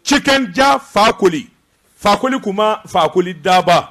Tiken ja fakoli fakoli kumba fakoli daba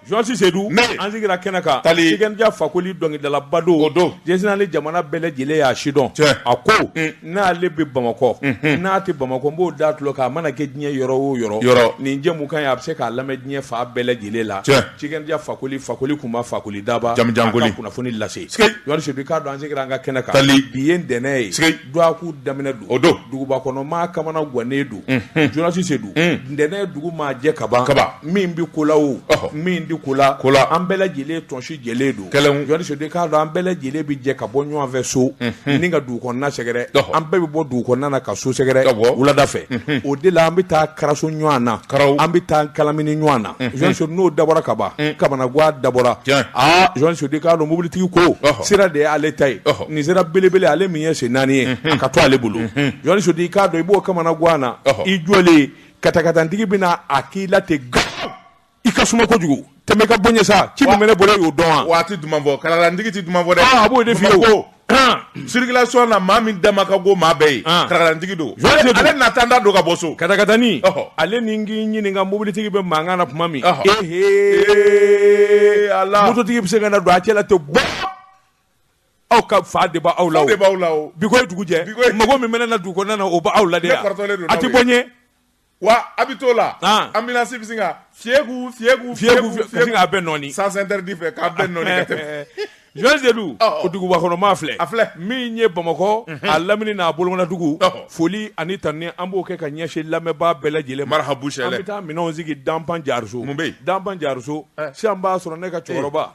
jɔsi sedu an sigira kɛnɛ kan tiken ja fakoli dɔnkilidalaba don jsinaan ni jamana bɛɛ lajɛlen y'a sidɔn a ko n'ale bɛ bamakɔ n'a tɛ bamakɔ n b'o da tulo kan a mana kɛ diɲɛ yɔrɔ o yɔrɔ nin jɛmukan ye a bɛ se k'a lamɛn diɲɛ fan bɛɛ lajɛlen la tiken ja fakoli fakoli kumba fakoli daba jamujan koli kunnafoni lase jɔsi sedu k'a dɔn an sigira an ka kɛnɛ kan bi ye ntɛnɛn ye Dɔgɔkun daminɛ don duguba kɔnɔ maa kamanagannen don jɔsi sedu ntɛnɛn dugu maa jɛ kaban min bɛ ko la o min tɛ ko la an bɛɛ lajɛlen tɔnsi jɛlen don jɔsi sedu k'a dɔn an bɛɛ lajɛlen bɛ jɛ ka bɔ ɲɔgɔnfɛ so ni ka dugu kɔnɔna sɛgɛrɛ an bɛɛ bɛ bɔ dugu kɔnɔna ka so sɛgɛrɛ wulada fɛ o de la an bɛ taa karaso ɲɔgɔn na an bɛ taa kalamini ɲɔgɔn na jɔsi sedu n'o dabɔra kaban kamanagan dabɔra jɔsi sedu k'a dɔn mobilitigi ko sira de y'ale ta ye nin sira belebele ale min ye sen naani ye ka to ale bolo jɔsi sedu k'a dɔn i b'o kamanagan na i jɔlen katakatanintigi bɛna a k'i la ten i ka suma kojugu tɛmɛ ka bɔ n ɲɛ sa ci min bɛ ne bolo y'o dɔn wa a tɛ duman bɔ katakatanintigi tɛ duman bɔ a b'o de f'i ye ko sirikilasɔn na maa min dama ka go maa bɛɛ ye katakatanintigi don ale na tan da don ka bɔ so katakatanin ale ni n k'i ɲininka mobilitigi bɛ mankan na tuma min ee ale mototigi bɛ se ka na don a cɛla to aw ka fa de b'aw la bi ko ye dugu jɛ mɔgɔ min bɛ na dugu kɔnɔna na o b'aw la a tɛ bɔ ɲɛ wa a bɛ t'o la ambulance bɛ sin ka fiku fiku k'a bɛɛ nɔɔni sans interdit fɛ k'a bɛɛ nɔɔni jɔsi sedu o duguba kɔnɔ maa filɛ min ye bamakɔ a lamini n'a bolomana dugu foli ani tanuni an b'o kɛ ka ɲɛsin lamɛnbaa bɛɛ lajɛlen marahaba an bɛ taa minɛn sigi danpan jariso danpan jariso sisan b'a sɔrɔ ne ka cɛkɔrɔba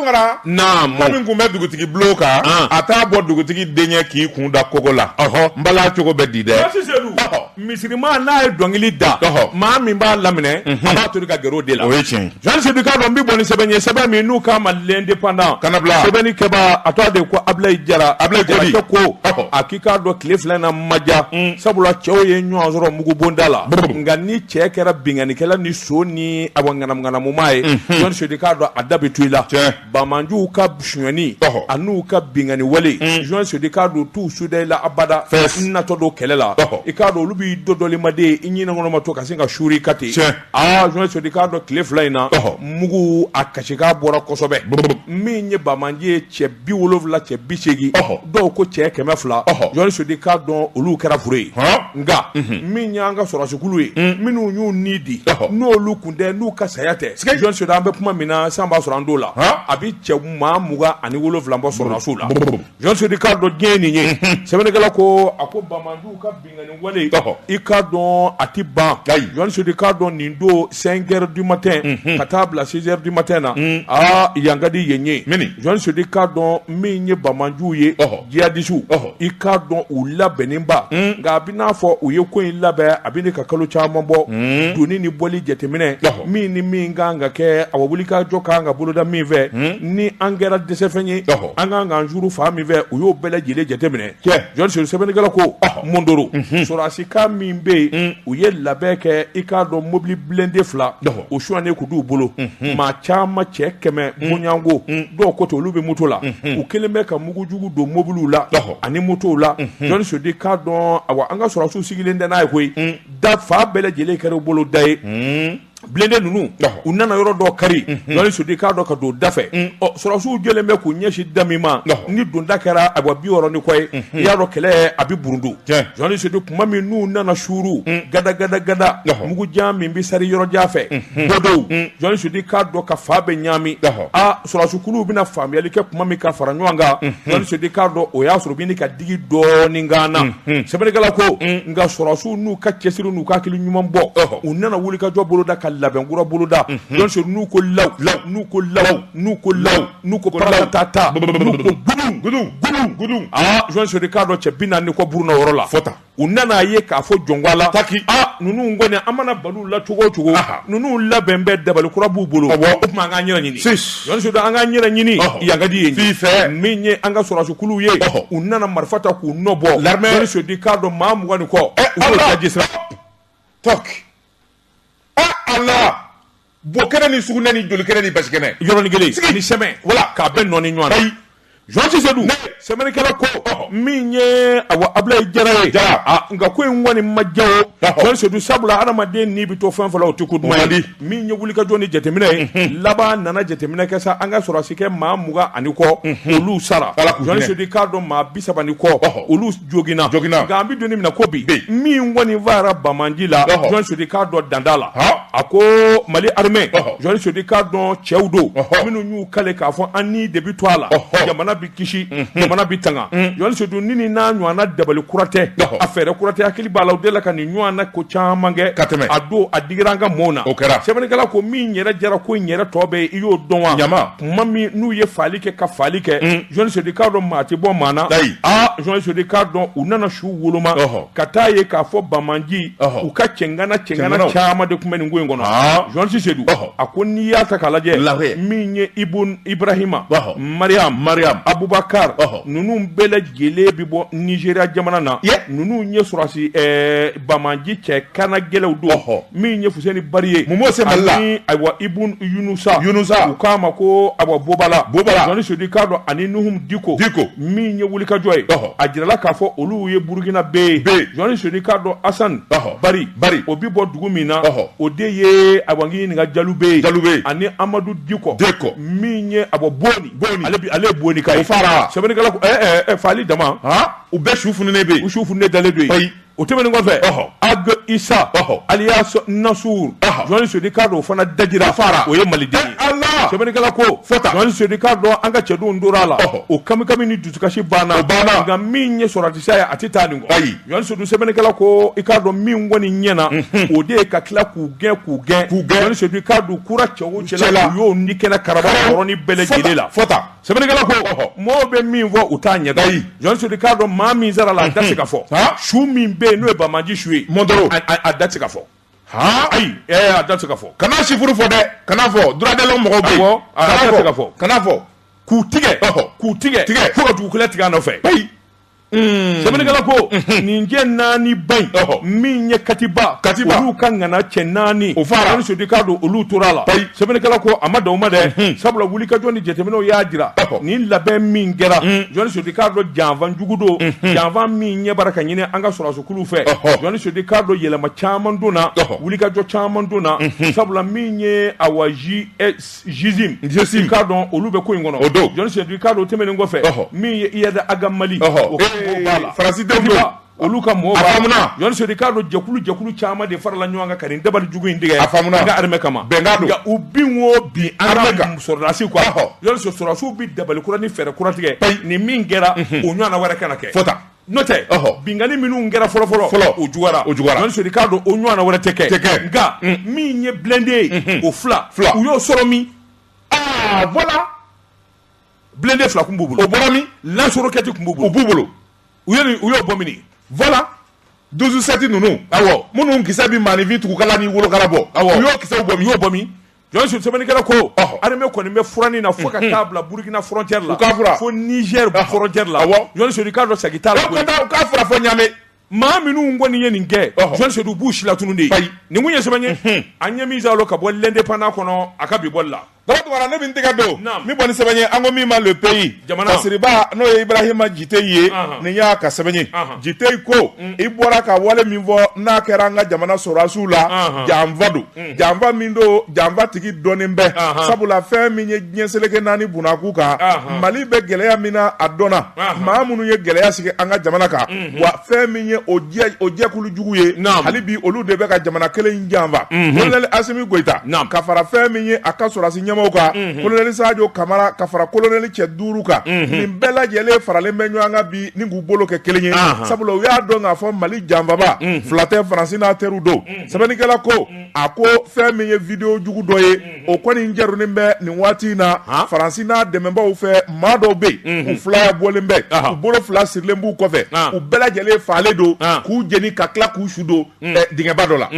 Tunkara min kun bɛ dugutigi bulon kan a t'a bɔ dugutigi denkɛ k'i kun da kogo la n bala cogo bɛ di dɛ jɔsi sedu misiriman n'a ye dɔnkili da maa min b'a laminɛ a b'a to ka gɛrɛ de la o ye jɔsi sedu k'a dɔn n bɛ bɔ ni sɛbɛn ye sɛbɛn min n'u k'a ma l'indépendant ka bila sɛbɛnnikɛbaa a tɔgɔ de ko abilayi jara abilayi jarakɛ ko a k'i k'a dɔn tile fila na ma ja sabula cɛw ye ɲɔgɔn sɔrɔ mugubonda la nka ni cɛ kɛra binkannikɛla son ni a ŋanamuŋanamumaa ye jɔsi sedu k'a dɔn a da bɛ to i la banbaganciw ka sonyali a n'u ka binkanni wale jɔsi sedu k'a dɔn t'u suda i la abada natɔ don kɛlɛ la i k'a dɔn olu b'i dɔ dɔmaden i ɲinɛnen kɔnɔma to ka sin ka suuru i kan ten aa jɔsi sedu k'a dɔn tile fila in na mugu a kasikan bɔra kosɛbɛ min ye banbaganci ye cɛ bi wolowula cɛ bi segin dɔw ko cɛ kɛmɛ fila jɔsi sedu k'a dɔn olu kɛra fure ye nka min y'an ka sɔrɔdasikulu ye minnu y'u ni di n'olu kun tɛ n'u ka saya tɛ jɔsi sedu an bɛ kuma min na sisan b'a sɔrɔ an don la a bɛ cɛ maa mugan ani wolofila bɔ sɔrɔdasiw la jɔsi sedu k'a dɔn diɲɛ nin ye sɛbɛnnikɛla ko a ko i k'a dɔn a tɛ ban i k'a dɔn nin don cinq heures du matin ka taa a bila six heures du matin na aa yan ka di yen ye jɔnni sodi k'a dɔn min ye banbaanciw ye jihadisiw i k'a dɔn u labɛnnenba nka a bɛ n'a fɔ u ye ko in labɛn a bɛ ka kalo caman bɔ donni ni bɔli jateminɛ min ni min ka kan ka kɛ a wulikajɔ ka kan ka boloda min fɛ ni an kɛra dɛsɛfɛn ye an ka kan k'an juru fa min fɛ u y'o bɛɛ lajɛlen jateminɛ sɛbɛnnikɛla ko mondoro sɔrɔsi kan min bɛ yen u ye labɛn kɛ i k'a dɔn mobili blindé fila u sonyana k'u d'u bolo maa caman cɛ kɛmɛ bɔɲɔgɔnko dɔw ko ten olu bɛ moto la u kelen bɛ ka mugujugu don mobiliw la ani motow la jɔnni sodi k'a dɔn awa an ka sɔrɔsiw sigilen tɛ n'a ye koyi da fan bɛɛ lajɛlen kɛra u bolo da ye blindé ninnu u nana yɔrɔ dɔ kari jɔnni sudi k'a dɔn ka don da fɛ sɔrɔsiw jɔlen bɛ k'u ɲɛsin da min ma ni donda kɛra awa bi wɔɔrɔ ni kɔ ye i y'a dɔn kɛlɛ a bɛ burundu jɔnni sudi tuma min n'u nana suuru gada gada gada mugu jan min bɛ sari yɔrɔ jan fɛ bɔdɔw jɔnni sudi k'a dɔn ka fan bɛɛ ɲaami aa sɔrɔsikulu bɛna faamuyali kɛ tuma min ka fara ɲɔgɔn kan jɔnni sudi k'a dɔn o y'a sɔrɔ u bɛ ka digi dɔɔnin kan na sɛbɛnnikɛla ko nka sɔrɔsiw n'u ka cɛsiri n'u ka hakili ɲuman bɔ u nana wulikajɔ boloda ka labɛn kura boloda jɔn sori n'u ko law n'u ko law n'u ko law n'u ko paratata n'u ko gudun gudun gudun gudun aa jɔn sori k'a dɔn cɛ bi naani ni kɔ burunna yɔrɔ la fo tan u nana ye k'a fɔ jɔnwala taki a ninnu kɔni an mana bal'u la cogo o cogo ninnu labɛn bɛ dabali kura b'u bolo o tuma an k'an yɛrɛ ɲini sodi an k'an yɛrɛ ɲini yan ka di ye fi fɛ min ye an ka sɔrɔsikulu ye u nana marifa ta k'u nɔ bɔ la sodi k'a dɔn maa mugan ni kɔ u' jisira to a la Bo kɛnɛ ni sugunɛ ni joli kɛnɛ ni basi kɛnɛ. Yɔrɔnin kelen. Sigi. Ani sɛmɛ. Voilà. K'a bɛɛ nɔɔni ɲɔgɔn na. Ayi. Jɔnni Sedu. Ne! Sɛbɛnnikɛla ko. Ɔhɔ! Min ye, awa, Abulayi Jara ye. Jara! Aa, nka ko in kɔni ma diya o. Ɔhɔ! Jɔnni Sedu, sabula hadamaden ni bɛ to fɛn o fɛn la, o tɛ ko duman ye. O man di. Min ye wulikajɔ ni jateminɛ ye. Unhun! Laban a nana jateminɛ kɛ sa, an ka sɔrɔdasi kɛ maa mugan ani kɔ. Unhun! Olu sara. Ala k'u hinɛ. Jɔnni Sedu, i k'a dɔn maa bi saba ni kɔ. Ɔhɔ! Olu joginna nka an bɛ don min na ko bi min kɔni fagara banbaanci la jɔn sudi k'a dɔn dan t'a la a ko mali armée jɔn sudi k'a dɔn cɛw don minnu y'u kali k'a fɔ an ni de bɛ to a la jamana bɛ kisi jamana bɛ tanga jɔn sudu nin n'a ɲɔgɔnna dabali kura tɛ a fɛɛrɛ kura tɛ hakili b'a la u delila ka nin ɲɔgɔn na ko caman kɛ ka tɛmɛ a don a digira an ka maaw na o kɛra sɛbɛnnikɛla ko min yɛrɛ diyara ko in yɛrɛ tɔ bɛɛ i y'o dɔn wa ɲama tuma min n'u ye fagali kɛ ka fagali kɛ jɔnni sodi k'a dɔn maa tɛ bɔ maa na ayi aa jɔnni sodi k'a dɔn u nana su woloma Ɔhɔ. ka taa ye k'a fɔ banbaanci Ɔhɔ. u ka cɛŋana cɛŋana Cɛŋanaw. caman de tun bɛ nin ko in kɔnɔ Aa. jɔnni sedu Ɔhɔ. a ko n'i y'a ta k'a lajɛ Lajɛ. min ye ibun ibrahima Ɔhɔ. mariam Mariam. abubakar Ɔhɔ. ninnu bɛɛ lajɛ Jɛlen bɛ bɔ nizeriya jamana na ninnu ye sɔrɔsi bamaji cɛ kana gɛlɛnw don hɔ min ye fuseni bari ye mun se mali la ayiwa ibun yunusa u k'a ma ko ayiwa bɔbala jɔni sodi k'a dɔn ani nuhum diko min ye wulikajɔ ye a jirala k'a fɔ olu ye burukinabɛ ye jɔni sodi k'a dɔn asan bari o bɛ bɔ dugu min na o de ye ayiwa n k'i ɲininka jalube ani amadu diko min ye ayiwa boni Ale boni ka fara sɛbɛnnikɛla ko faali dama u bɛɛ su fununnen bɛ u su fununnen dalen don yen o tɛmɛnen kɔfɛ agi isa alias nasuru jɔn sodi k'a dɔn o fana dajira fara o ye maliden ye sɛbɛnnikɛla ko jɔn sodi k'a dɔn an ka cɛdenw tora a la o kamikami ni dusukasi banna nka min ye sɔrɔdasiya ye a tɛ taa nin kɔ Jɔn sedu sɛbɛnnikɛla ko i k'a dɔn min kɔni ɲɛna o de ye ka tila k'u gɛn k'u gɛn k'u gɛn jɔn sodi k'a dɔn kura cɛ o cɛ la u y'o ni kɛnɛ kara yɔrɔnin bɛɛ lajɛlen la sɛbɛnnikɛla ko mɔgɔw bɛ min fɔ u t'a ɲɛdɔn jɔn sodi k'a dɔn maa min sara a la a da se ka fɔ su min bɛ yen n'o ye bamaji su ye mondoro a da se ka fɔ ayi a da se ka fɔ kana sifuru fɔ dɛ kana fɔ droit de l'homme mɔgɔ bɛ fɔ kana fɔ k'u tigɛ k'u tigɛ tigɛ fo ka dugu kelen tigɛ nɔfɛ Mm. sɛbɛnnikɛla ko mm-hmm. nin cɛ naani ba in min ye katiba olu ka ŋana cɛ naani o fara jɔni sodi k'a dɔn olu tora a la sɛbɛnnikɛla ko a ma dan o ma dɛ mm-hmm. sabula wulikajɔ ni jateminɛw y'a jira nin labɛn min kɛra mm. jɔni sodi k'a dɔn janfa jugu don mm-hmm. janfa min ɲɛ bara ka ɲini an ka sɔrɔdasikuluw fɛ jɔni sodi k'a dɔn yɛlɛma caman donna wulikajɔ caman donna sabula min ye awa ji k'a dɔn olu bɛ ko in kɔnɔ jɔni sodi k'a dɔn tɛmɛnen kɔfɛ min ye iyada agamali farasi olu ka mɔgɔw b'a la jɔni sodi k'a dɔn jɛkulu jɛkulu caman de farala ɲɔgɔn kan ka nin dabali jugu in tigɛ armée kama nka u bin o bin an ka sɔrɔdasiw kan jɔni sɔrɔsiw bɛ dabali kura ni fɛɛrɛ kura tigɛ nin min kɛra o ɲɔgɔnna wɛrɛ kana kɛ N'o tɛ binani minnu kɛra fɔlɔfɔlɔ fɔlɔ o juyara o juyara n siri k'a don o ɲɔgɔn wɛrɛ tɛ kɛ tɛ kɛ nka min ye biladen ye o fila fila u y'o sɔrɔ min aa bɔra biladen fila tun b' bolo o bɔra min lasurukɛti tun b' bolo b'u bolo u u y'o bɔ vwala donsosa tɛ ninnu aw minnu ki bɛ maa nifin tuguka ni wolokala bɔ aw y'o ki bɔ u y'o bɔ min Jɔn sedu sɛbɛnnikɛla ko armée kɔni bɛ furanni na fo ka taa bila burukina frontière la fo nizɛri frontière la jɔn sodi k'a dɔn segin t'a la u k'a furan fo ɲamɛ maa minnu kɔni ye nin kɛ jɔn sedu b'u silatunu de nin kun ye sɛbɛn ye an ye min sɔrɔ ka bɔ l'indépendant kɔnɔ a ka bi bɔli la ne min tɛgɛ don min bɔ nin sɛbɛn ye an ko min ma le pays jamana siriba n'o ye ibarahima jite ye nin y'a ka sɛbɛn ye jite ko i bɔra ka wale min fɔ n'a kɛra an ka jamana sɔrɔsiw la janfa don Mm. janfa min don janfa tigi dɔnnen bɛ sabula fɛn min ye diɲɛ seleke naani bunna kun kan mali bɛ gɛlɛya min na a dɔnna maa minnu ye gɛlɛya sigi an ka jamana kan mhm. wa fɛn min ye o jɛkulu jugu ye hali bi olu de bɛ ka jamana kelen janfa mhm. kolonɛli asimi goyita ka fara fɛn min ye a ka sɔrɔdasi ɲɛmɔgɔw kan mhm. kolonɛli sajo kamara ka fara kolonɛli cɛ duuru kan nin bɛɛ lajɛlen faralen bɛ ɲɔgɔn kan bi ni k'u bolo kɛ kelen ye sabula u y'a dɔn k'a fɔ mali janfabaa fila tɛ faransi n'a teriw don sɛbɛnnikɛla ko a ko fɛn min ye video jugu dɔ ye o kɔni jɛrunnen bɛ nin waati in na faransi n'a dɛmɛbaaw fɛ maa dɔw bɛ yen u filaya bɔlen bɛ u bolo fila sirilen b'u kɔfɛ u bɛɛ lajɛlen faalen don k'u jeni ka tila k'u su don dingɛba dɔ la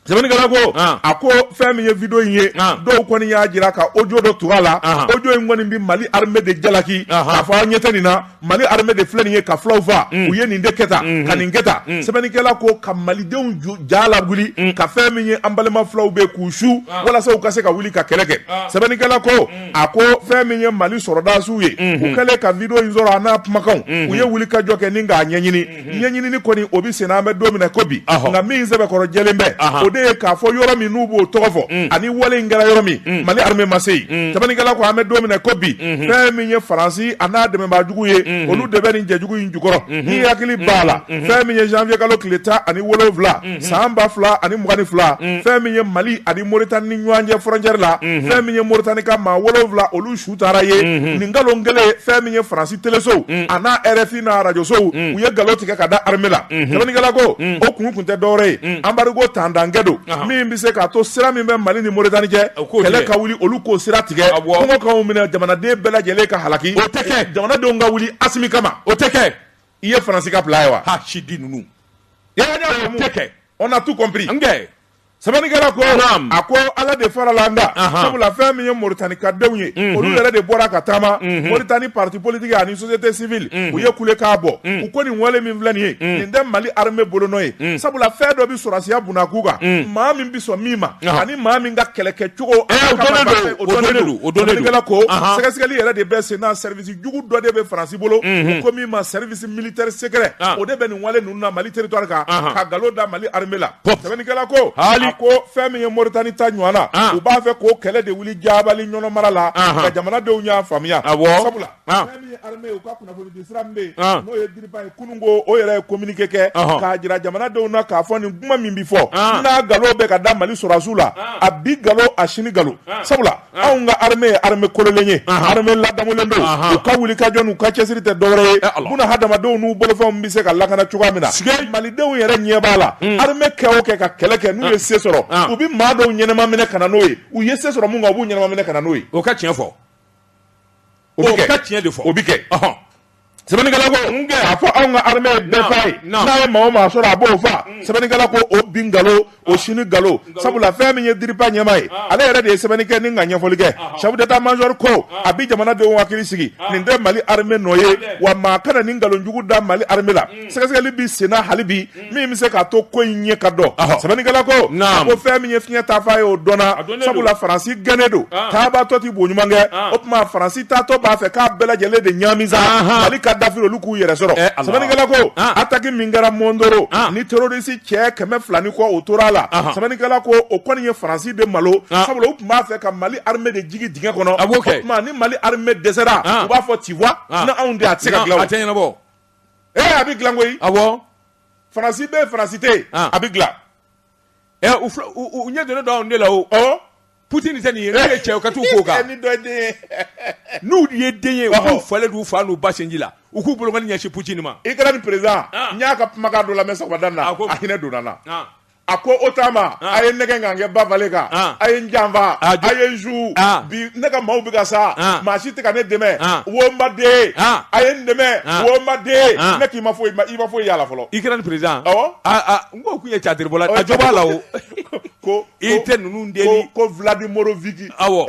sɛbɛnnikɛla ko a ko fɛn min ye video in ye dɔw kɔni y'a jira ka audio dɔ tug'a la audio in kɔni bɛ Mali armée de jalaki k'a fɔ aw ɲɛ tɛ nin na mali armée de filɛ nin ye ka fulaw faa mm. u ye nin de kɛ tan mm-hmm. ka nin kɛ tan mm. sɛbɛnnikɛla ko ka malidenw ja lawuli mm. ka fɛn min ye an balima fulaw bɛ k'u su ah. walasa u ka se ka wuli ka kɛlɛ kɛ ah. sɛbɛnnikɛla ko a ko fɛn min ye mali sɔrɔdasiw ye mm-hmm. u kɛlen ka video in sɔrɔ a n'a kumakanw mm-hmm. u ye wuli ka jɔ kɛ ni k'a ɲɛɲini ɲɛɲinini kɔni o bɛ sen na an bɛ don min na ko bi nka min sɛbɛkɔrɔ jɛlen bɛ o de ye k'a fɔ yɔrɔ min n'u b'o tɔgɔ fɔ mm. ani wale in kɛra yɔrɔ min mm. mali armée ma se yen mm. sɛbɛnnikɛla ko an bɛ don min na ko bi mm-hmm. fɛn min ye faransi a n'a dɛmɛbaajugu ye mm-hmm. olu de bɛ nin jɛjugu in jukɔrɔ mm-hmm. ni hakili b'a la fɛn min ye janvier kalo tile tan ani wolonwula san ba fila ani mugan ni fila fɛn min ye mali ani moritani ni ɲɔgɔn cɛ frontière la fɛn min ye moritani ka maa wolonwula olu su taara yen nin nkalon kelen fɛn min ye faransi telesow a n'a RFI n'a arajosow u ye nkalon tigɛ ka da armée la sɛbɛnnikɛla ko o kun tun tɛ dɔwɛrɛ ye embargo tantankɛ don min bɛ se k'a to sira min bɛ mali ni moritani cɛ kɛlɛ ka wuli olu k'o sira tigɛ kɔngɔ k'anw minɛ jamanaden bɛɛ lajɛlen ka halaki o tɛ kɛ jamanadenw ka wuli asimi kama o tɛ kɛ i ye faransi ka plan ye wa h sidi ninnu kɛ on a tout comp Sɛbɛnnikɛla ko a ko ala de farala an kan sabula fɛn min ye moritani ka denw ye olu yɛrɛ de bɔra ka taama moritani parti politique ani société civile u ye kulekan bɔ u ko nin wale min filɛ nin ye nin tɛ mali armée bolonɔ ye sabula fɛn dɔ bɛ sɔrɔsiya bunna kun kan maa min bɛ sɔn min ma ani maa min ka kɛlɛkɛcogo ko sɛgɛsɛgɛli yɛrɛ de bɛ sen na service jugu dɔ de bɛ faransi bolo u ko min ma service militaire secret o de bɛ nin mali territoire kan ka nkalon da mali armée la sɛbɛnnikɛla ko ko fɛn min ye moritani ta ɲɔgɔn na u b'a fɛ ko kɛlɛ de wuli jabali ɲɔnɔn mara la nka jamanadenw y'a faamuya sabula fɛn min ye armée u ka kunnafoni di sira min bɛ yen n'o ye DIRPA ye kunun ko o yɛrɛ ye kominike kɛ k'a jira jamanadenw na k'a fɔ nin kuma min bɛ fɔ n'a nkalon bɛ ka da mali sɔrɔsiw la a bi nkalon a sini nkalon sabula anw ka armée ye armée kololen ye armée ladamulen don u ka wuli ka jɔ n'u ka cɛsiri tɛ dɔwɛrɛ ye buna hadamadenw n'u bolofɛnw bɛ se ka lakana cogoya min na malidenw yɛrɛ ɲɛ b'a la hmm. armée kɛ o kɛ ka kɛlɛ kɛ n'u ye se sɔrɔ u bɛ maa dɔw ɲɛnama minɛ ka na n'o ye u ye se sɔrɔ mun kan u b'u ɲɛnama minɛ ka na n'o ye o ka tiɲɛ fɔ O bɛ kɛ. O ka tiɲɛ de fɔ. O bɛ kɛ. Ɔhɔn. Sɛbɛnnikɛla ko. N kɛ. K'a fɔ anw ka armée ye bɛɛ fa ye. Naamu. N'a ye maa o maa sɔrɔ a b'o fa. Sɛbɛnnikɛla ko o bi nkalon, o sini nkalon. Nkalon. Sabula fɛn min ye DIRPA ɲɛmaa ye. Ɔn. Ale yɛrɛ de ye sɛbɛnni kɛ ni ka ɲɛfɔli kɛ. Ɔhɔn. Chef d'Etat major ko. Ɔn. A bi jamana denw hakili sigi. Ɔn. Nin tɛ Mali armée nɔ ye. Hatɛ. Wa maa kana nin nkalon jugu da Mali armée la. Un. Sɛgɛsɛgɛli bɛ senna hali bi. min bɛ se k'a to ko in ɲɛ ka dɔn sɛbɛnnikɛla ko a ko fɛn min ye fiɲɛ taafan ye o dɔnna sabula faransi gɛnnen don taabaatɔ tɛ bo ɲuman kɛ o tuma faransi taatɔ b'a fɛ k'a bɛɛ lajɛlen de ɲaami sa mali ka dafiri olu k'u yɛrɛ sɔrɔ sɛbɛnnikɛla ko attaque min kɛra mɔndoro ni terorisi cɛ kɛmɛ fila ni kɔ o tora a la sɛbɛnnikɛla ko o kɔni ye faransi de malo sabula u tun b'a fɛ ka mali armée de jigin dingɛ kɔnɔ o tuma ni mali armée dɛsɛra u b'a fɔ tu vois ni anw tɛ a tɛ se ka ee a bɛ dilan koyi awɔ faransi bɛ yen faransi tɛ yen Ah. a bɛ dilan ɛ u fila- u u- u ɲɛ donnen don anw de la o ɔ putin tɛ nin ye n'u ye cɛ u ka t'u k'o kan ni dɔ ye den ye n'u ye den ye u Ɔhɔ. k'u falen d'u fa n'u ba sinji la u k'u bolokɔni ɲɛsin putin ma Ukraine président Ah. n y'a ka kumakan dɔ lamɛn sɔgɔmada in na A ko- a hinɛ donna n na Ah, a ko OTAN ma ah. a ye n nɛgɛn ka n kɛ ba falen kan ah. a ye n janfa ah, a ye n su bi ne ka maaw bɛ ka sa maa si tɛ ka ne dɛmɛ wo n baden a ye n dɛmɛ wo n baden ne k'i ma foyi i ma foyi y'a la fɔlɔ Ukraine président awɔ n ko kun ye catiribɔla a jɔ b'a la o ko i tɛ ninnu deli ko Vladimiroviki awɔ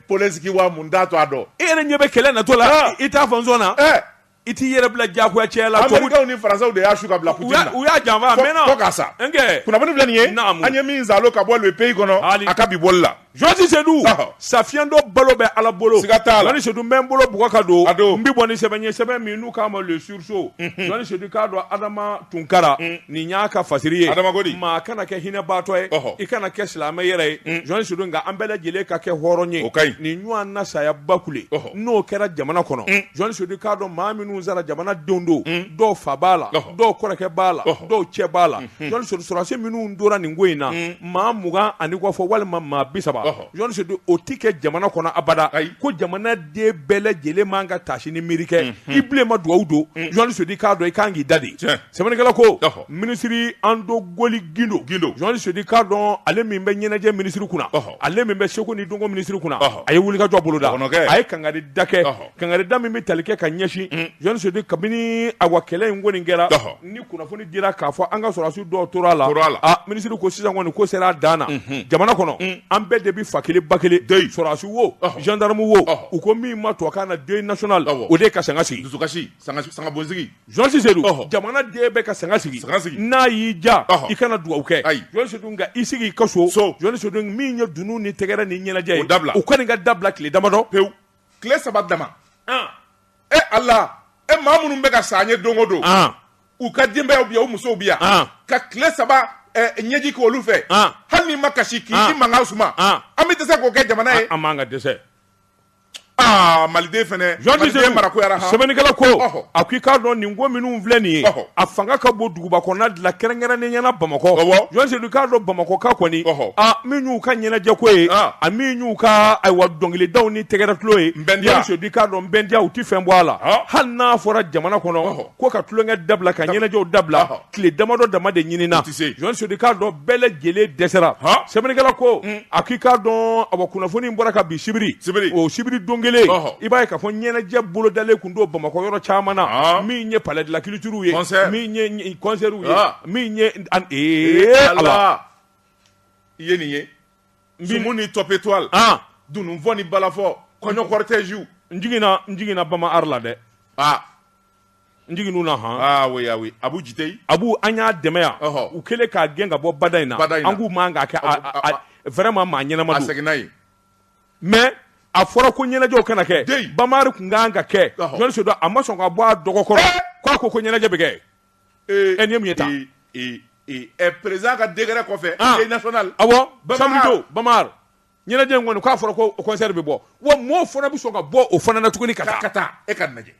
Polensiki wa mun t'a to a dɔn e yɛrɛ ɲɛ bɛ kɛlɛ natɔ la i t'a fɔ n sɔnna I t'i yɛrɛ bila jagoya cɛ la Americains ni Français de y'a su ka bila Poutine na, u y'a janfa maintenant, fo k'a sa, n kɛ, kunnafoni filɛ nin ye, naamu, an ye min saalo ka bɔ le pays kɔnɔ a ka bi bɔli la, Jɔsi Sedu, ɔhɔ, Sa fiyentɔ balo bɛ Ala bolo, siga t'a la, Jɔni Sedu n bɛ n bolo bugɔ ka don, a don, n bɛ bɔ ni sɛbɛn ye sɛbɛn min n'u k'a ma le sursaut, unhun, Jɔni Sedu i k'a dɔn Adama Tunkara, un, nin y'a ka fasiri ye, Adama ko di, maa kana kɛ hinɛbaatɔ ye, ɔhɔ, i kana kɛ silamɛ yɛrɛ ye, un, Jɔni Sedu nka an bɛɛ lajɛlen ka kɛ hɔrɔn ye, o ka ɲi, nin ɲɔgɔnna saya ba kule, ɔhɔ n'o kɛra jamana kɔnɔ jɔni sedu i k'a dɔn maa minnu sara jamana denw don dɔw fa b'a la dɔw kɔrɔkɛ b'a la dɔw cɛ b'a la jɔni sedu sɔrɔdasi minnu tora nin ko in na maa mugan ani kɔ fɔ walima maa bi saba jɔni sedu o tɛ kɛ jamana kɔnɔ abada ko jamana den bɛɛ lajɛlen ma an ka taasi ni miiri kɛ i bilen ma dugawu don jɔni sedu i k'a dɔn i ka kan k'i da de Sɛbɛnnikɛla ko minisiri Andogoly Guindo Guindo Jɔni Sedu i k'a dɔn ale min bɛ ɲɛnajɛ minisiri kunna ale min bɛ seko ni dɔnko minisiri kunna a ye wulikajɔ boloda a ye kangari da kɛ kangari da min bɛ tali kɛ ka ɲɛsin Jɔni Sedu kabini a wa kɛlɛ in kɔni kɛra ni kunnafoni dira k'a fɔ an ka sɔrɔsiw dɔ tora a la a minisiri ko sisan kɔni ko sera a dan na jamana kɔnɔ an bɛɛ de bɛ fa kelen ba kelen sɔrɔsi wo jandamu wo u ko min ma tubabukan na deuil national o de ye ka sanga sigi dusukasi sanga bonsigi Jɔni Sedu jamana den bɛɛ ka sanga sigi n'a y'i ja i kana dugawu kɛ Jɔni Sedu nka i sigi i ka so Jɔni Sedu min ye dunun ni tɛgɛrɛ ni ɲɛnajɛ ye u ka ɲi ka dabila tile damadɔ pewu tile saba dama e Ala e maa minnu bɛ ka sa an ye don o don u ka denbayaw bi yan u musow bi yan ka tile saba ɲɛji kɛ olu fɛ hali n'i ma kasi k'i mankan suma an bɛ dɛsɛ k'o kɛ jamana ye an man ka dɛsɛ aa maliden fɛnɛ Jɔni Sedu maliden mara goyara han sɛbɛnnikɛla ko ɔhɔ a ko i k'a dɔn nin ko minnu filɛ nin ye ɔhɔ a fanga ka bon duguba kɔnɔna de la kɛrɛnkɛrɛnnenya na Bamakɔ awɔ Jɔni Sedu i k'a dɔn Bamakɔkaw kɔni ɔhɔ a min y'u ka ɲɛnajɛ ko ye an a min y'u ka ayiwa dɔnkilidaw ni tɛgɛrɛ tulon ye Nbɛndiya Jɔni Sedu i k'a dɔn Nbɛndiya u ti fɛn bɔ a la han hali n'a fɔra jamana kɔnɔ ɔhɔ ko ka tulonkɛ dabila ka ɲɛnajɛw dabila Ɔhɔ. tile damadɔ dama de ɲinina tɛ se. Jɔni Sedu i k'a dɔn bɛɛ lajɛlen dɛsɛra Han. sɛbɛnnikɛla ko a k'i k'a dɔn awa kunnafoni in bɔra kabi sibiri Sibiri. o sibiri don kelen Ɔhɔ. i b'a ye k'a fɔ ɲɛnajɛ bolodalen kun don bamakɔ yɔrɔ caman na Han. min ye palais de la culture ye Concert. min ye ɲ- concert ye Ah. min ye an- ee Ee, Ala. Ala i ye nin ye sumu ni top étoile Ah. dununfɔ ni balafɔ kɔɲɔ cortège n jiginna n jiginna Bama Art la dɛ ah n jiginn'u na han ah oui ah oui Abu Jiteyi Abu an y'a dɛmɛ yan ɔhɔ u kɛlen k'a gɛn ka bɔ bada in na bada in na an k'u man k'a kɛ a a a vraiment maa ɲɛnama don a seginna yen mais a fɔra ko ɲɛnajɛw kana kɛ deyi Bama Art kun ka kan ka kɛ Jɔni Sedu a ma sɔn k'a bɔ a dɔgɔ kɔrɔ eh! k'a ko ko ɲɛnajɛ bɛ kɛ ee ɛ nin ye mun ye tan ee ee ee ɛ président ka décret kɔfɛ ah. deuil national awɔ samedi don Bama Art ɲɛnajɛ in kɔni k'a fɔra ko o concert bɛ bɔ wa mɔɔw fana bɛ sɔn ka bɔ o fana na tuguni ka taa ka taa e k'a lajɛ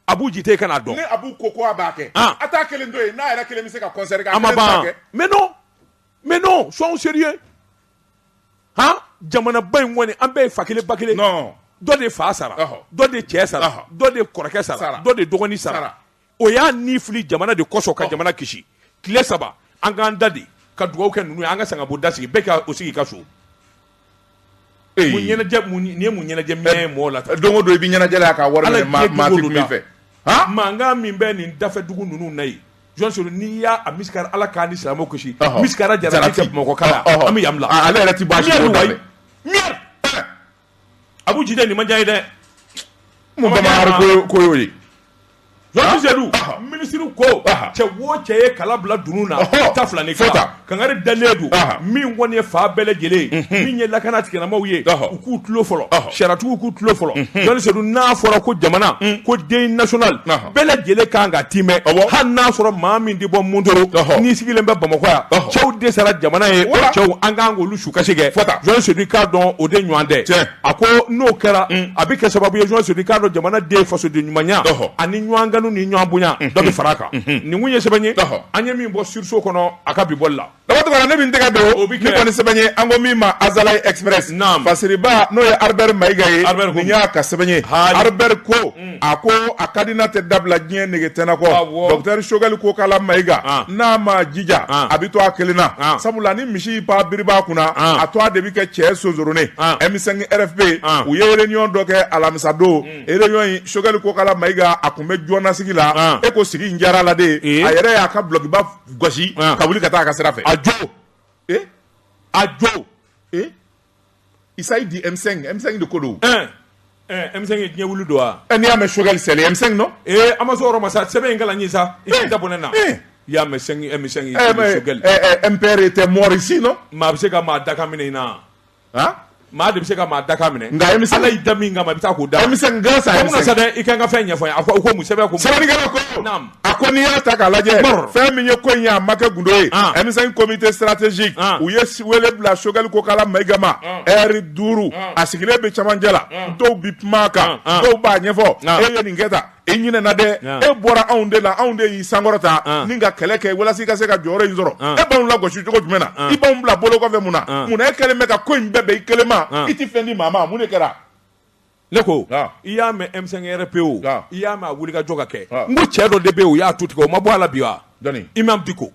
Abu Jiteyi ka n'a dɔn ni Abu ko ko a b'a kɛ an a t'a kelen to yen n'a yɛrɛ kelen bɛ se ka concert kɛ a ma ban mais non mais non soyons sérieux han jamanaba in kɔni an bɛɛ ye fa kelen ba kelen non dɔ de fa sara dɔ de cɛ sara dɔ de kɔrɔkɛ sara dɔ de dɔgɔnin sara o y'a ni fili jamana de kɔsɔn ka jamana kisi tile saba an k'an da de ka dugawu kɛ ninnu ye an ka sanga bonda sigi bɛɛ k'u sigi ka so nin ye mun ɲɛnajɛ mɛn ye mɔgɔ la don o don i bɛ ɲɛnajɛ ka wari min fɛ mankan min bɛ nin dafɛ dugu ninnu na ye Jɔni Sedu n'i y'a misi Ala k'an ni silamɛw kisi jara mɔgɔ an bɛ ale yɛrɛ Abu Jiteyi nin ma diya ye dɛ ko y'o ye Jean dit Seydou minisiri ko cɛ wo cɛ ye kala bila dunun na ta fila ni fɛn ta kangari dalen don min kɔni ye fa bɛɛ lajɛlen min ye lakana tigilamaaw ye u k'u tulo fɔlɔ sariyatigiw k'u tulo fɔlɔ Jean dit Seydou n'a fɔra ko jamana ko deuil national bɛɛ lajɛlen kan ka tɛmɛ hali n'a sɔrɔ maa min tɛ bɔ Mondoro n'i sigilen bɛ bamakɔ yan cɛw de sara jamana ye cɛw an kan u sukasi kɛ fo Jean dit Seydou k'a dɔn o de ɲɔgɔn tɛ tiɲɛ a ko n'o kɛra mm. a bɛ kɛ sababu ye Jean dit Seydou k'a dɔn jamana den fasoden ɲumanya ani ɲɔgɔn kanu ni ɲɔgɔn bonya mm-hmm. dɔ bɛ fara a kan mm-hmm. nin kun ye sɛbɛn ye an ye min bɔ Sursaut kɔnɔ a ka bi bɔli la Daba Tunkara ne min tɛgɛ don o bɛ kɛ nin kɔni sɛbɛn ye an ko min ma Azalaï Express naam fasiriba n'o ye Albert Mayiga ye Albert nin y'a ka sɛbɛn ye Albert ko mm. a ko a ka di n'a tɛ dabila diɲɛ nege tɛna kɔ docteur Choguel Kokala Mayiga n'a ma jija a bɛ to a kelen na sabula ni misi pa biriba kunna a to a de bɛ kɛ cɛ sonsoronen M5 RFP u ye réunion dɔ kɛ alamisadon réunion in Choguel Kokala Mayiga a kun bɛ jɔnasigi la e ko sigi in diyara la de a yɛrɛ y'a ka blokiba gosi ka wuli ka taa a ka sira fɛ a jo a jo Isayi di M5 M5 de ko don ɛn ɛn M5 ye diɲɛ wuli don wa ɛ n'i y'a mɛn Choguel c'est le M5 non ee an ma s'o yɔrɔ ma sa sɛbɛn in kalan n ye sa i k'i da bɔ ne na i y'a mɛn M5 M5 ye eh, mais, Choguel eh, eh, MPR était mort ici non maa bɛ se ka maa dakan minɛ i na han maa de bɛ se ka maa dakan minɛ nka M5 Ala y'i da min kama i bɛ taa k'o da M5 grâce à ko mun na M5 sa dɛ i ka n ka fɛn ɲɛfɔ n ye a ko u ko mun sɛbɛn ko mun sɛbɛnnikɛla ko naam a ko n'i y'a ta k'a lajɛ fɛn min ye ko in ye a ma kɛ gundo ye M5 comité stratégique u ye wele bila Choguel Kokala Mayiga ma heure duuru a sigilen bɛ camancɛ la dɔw bɛ kuma a kan dɔw b'a ɲɛfɔ e ye nin kɛ tan i ɲinɛna dɛ e bɔra anw de la anw de y'i sankɔrɔta ni ka kɛlɛ kɛ walasa i ka se ka jɔyɔrɔ in sɔrɔ e b'anw lagosi cogo jumɛn na i b'anw bila bolo kɔfɛ mun na mun na e kɛlen bɛ ka ko in bɛɛ bɛn i kelen ma i tɛ fɛn di maa ma mun de kɛra ne ko i y'a mɛn emisɛn pe o i y'a mɛn a wuli ka jɔ ka kɛ n ko cɛ dɔ de bɛ o y'a tu tigɛ o ma bɔ ala la bi wa i ma bi ko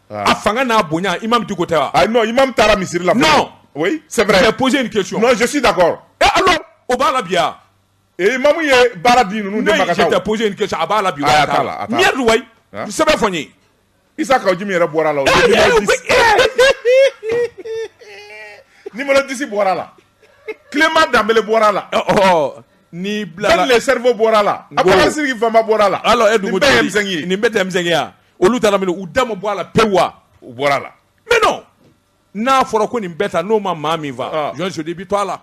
a fanga n'a bonya i ma bi ko tɛ i ma taara misiri la sɛ pose in ke sɔsi da kɔrɔ o b'a la bi ee mamu ye baara di ninnu tɛ pose in ke a b'a la bi sɛbɛn fɔ n ye Isa ka jimi yɛrɛ bɔra la ni mana disi bɔra la tilema danbeb bɔra la ni bila sɛbɛ bɔra la a bɛ siri fanba bɔra la ala nin bɛ tɛmɛsɛnya olu taara u da ma bɔ a la pe wa u bɔra la n n'a fɔra ko nin bɛ taa n'o ma maa min faa jɔn sudi bɛ to la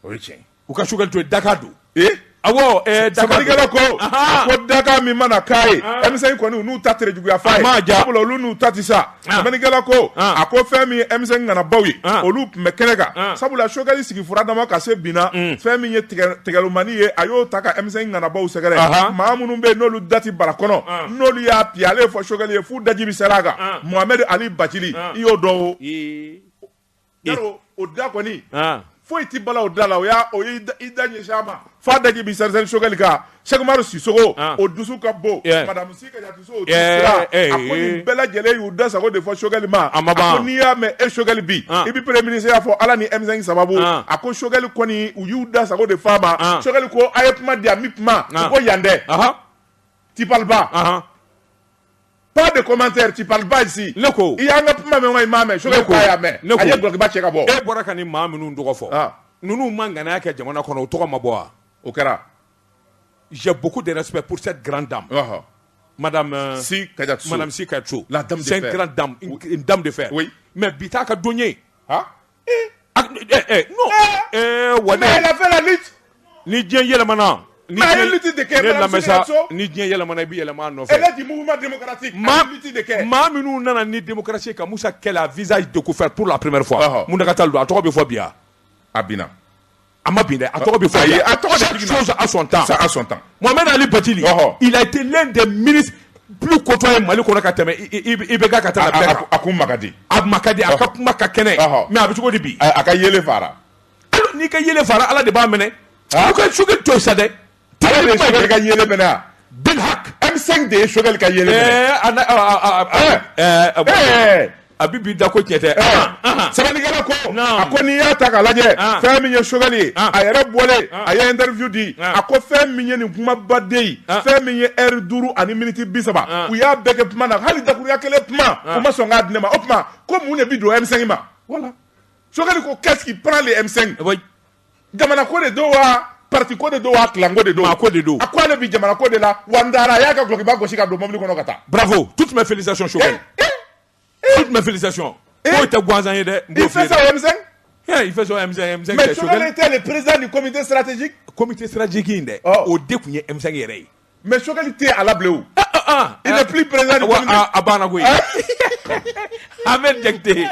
o ye tiɲɛ ye u ka Choguel to yen dakan don ee awɔ ɛɛ dakan don sɛbɛnnikɛla ko Ahan. ko dakan min mana k'a ye Ah. M5 kɔni u n'u ta tere juguya fa A ye ma ja. sabula olu n'u ta ti sa Ah. sɛbɛnnikɛla ko Ah. a ko fɛn min ye M5 ŋanabaw ye Ah. olu tun bɛ kɛnɛ kan Ah. sabula Choguel sigi fura dama ka se bi na fɛn min ye tigɛ- tigɛlomani ye a y'o ta ka M5 ŋanabaw sɛgɛrɛ Ahan. maa minnu bɛ yen n'olu da ti bara kɔnɔ Ah. n'olu y'a piye ale ye fɔ Choguel ye f'u daji bi seri a kan Ah. Mohamed Ali Bathily Ah. i y'o dɔn o Ee, o da kɔni foyi tɛ bala o da la o y'a o i da ɲɛ sa ma fa da bi sa sokɛkali kan sɛkumaru siso o dusu ka bon madamuso bɛɛ lajɛlen y'u da sago de fɔ sokɛkali ma a ma n'i y'a mɛn e sokɛkali bi i bɛ pere minisi y'a fɔ ala ni emi sababu a ko sokɛkali kɔni u y'u da sago de fa ma sokɛkali ko a ye kuma di a bɛ kuma ko yan dɛ tiba pas de commentaire tu parles pas ici ne ko i y'an ka kuma mɛn wa i m'a mɛn Choguel k'a y'a mɛn a ye dɔlɔkiba cɛ ka bɔ e bɔra ka nin maa minnu tɔgɔ fɔ ah. ninnu ma ŋanaya kɛ jamana kɔnɔ o tɔgɔ ma bɔ wa o kɛra j'ai beaucoup de respect pour cette grande dame uh -huh. madame euh, Sy Kadiatou Sow madame Sy Kadiatou Sow la dame de fer c'est une grande dame une, une dame de fer oui mais bi t'a ka don ye ah A tun bɛ- ɛ, ɛ, no. Ɛ, wa ne- Mais elle a fait la lutte. ni diɲɛ yɛlɛmana ni Mais a ye diɲɛ- lutte de kɛ, ne Madame lamɛn sa, Sy Kadiatou Sow. ni diɲɛ yɛlɛmana i bɛ yɛlɛma a nɔfɛ Elle est du mouvement démocratique. maa a ye lutte de kɛ. maa minnu nana ni démocratie ye ka Musa kɛlɛ à visage découvert pour la première fois Ɔhɔ. mun de ka tile don a tɔgɔ bɛ fɔ bi wa a binna a ma bin dɛ a tɔgɔ bɛ fɔ ayi a tɔgɔ de chaque chose a son temps ça a son temps Mohamed Ali Bathily ɔhɔ il a été l'un des ministres plus côtoyés Mali kɔnɔ ka tɛmɛ IBK ka taa bɛɛ kan a kuma ka di a ma ka di a ka kuma ka kɛnɛ mais a bɛ cogo di bi a ka yeelen fara alors n'i ka yeelen fara Ala de b'a mɛnɛ u ka Choguel to yen sa dɛ de ye Choguel ka yeelen mɛnɛ M5 de ye Choguel ka yeelen mɛnɛ a bɛ bi da ko tiɲɛ tɛ sɛbɛnnikɛla ko a ko n'i y'a ta k'a lajɛ fɛn min ye Choguel ye a yɛrɛ bɔlen a ye interview di a ko fɛn min ye nin kumabaden ye fɛn min ye heure duuru ani miniti bi saba u y'a bɛɛ kɛ kuma na hali dakuruɲa kelen kuma u ma sɔn k'a di ne ma o tuma ko mun de bɛ don M5 ma voilà Choguel ko qu'est-ce qui prend le M5 jamana ko de don wa parti ko de don wa clan ko de don a ko ale bi jamana ko de la wa n taara a y'a ka dɔlɔkiba gosi ka don mobili kɔnɔ ka taa bravo toutes mes félicitations Choguel eh, eh, eh. toutes mes félicitations k'o tɛ gansan ye dɛ il fait ça au M5 il fait ça au M5 au M5 mais Choguel était le président du comité stratégique comité stratégique in dɛ o de tun ye M5 yɛrɛ ye mais Choguel tɛ a la bilen o il n'est plus président du comité a banna koyi Ahmed Diakité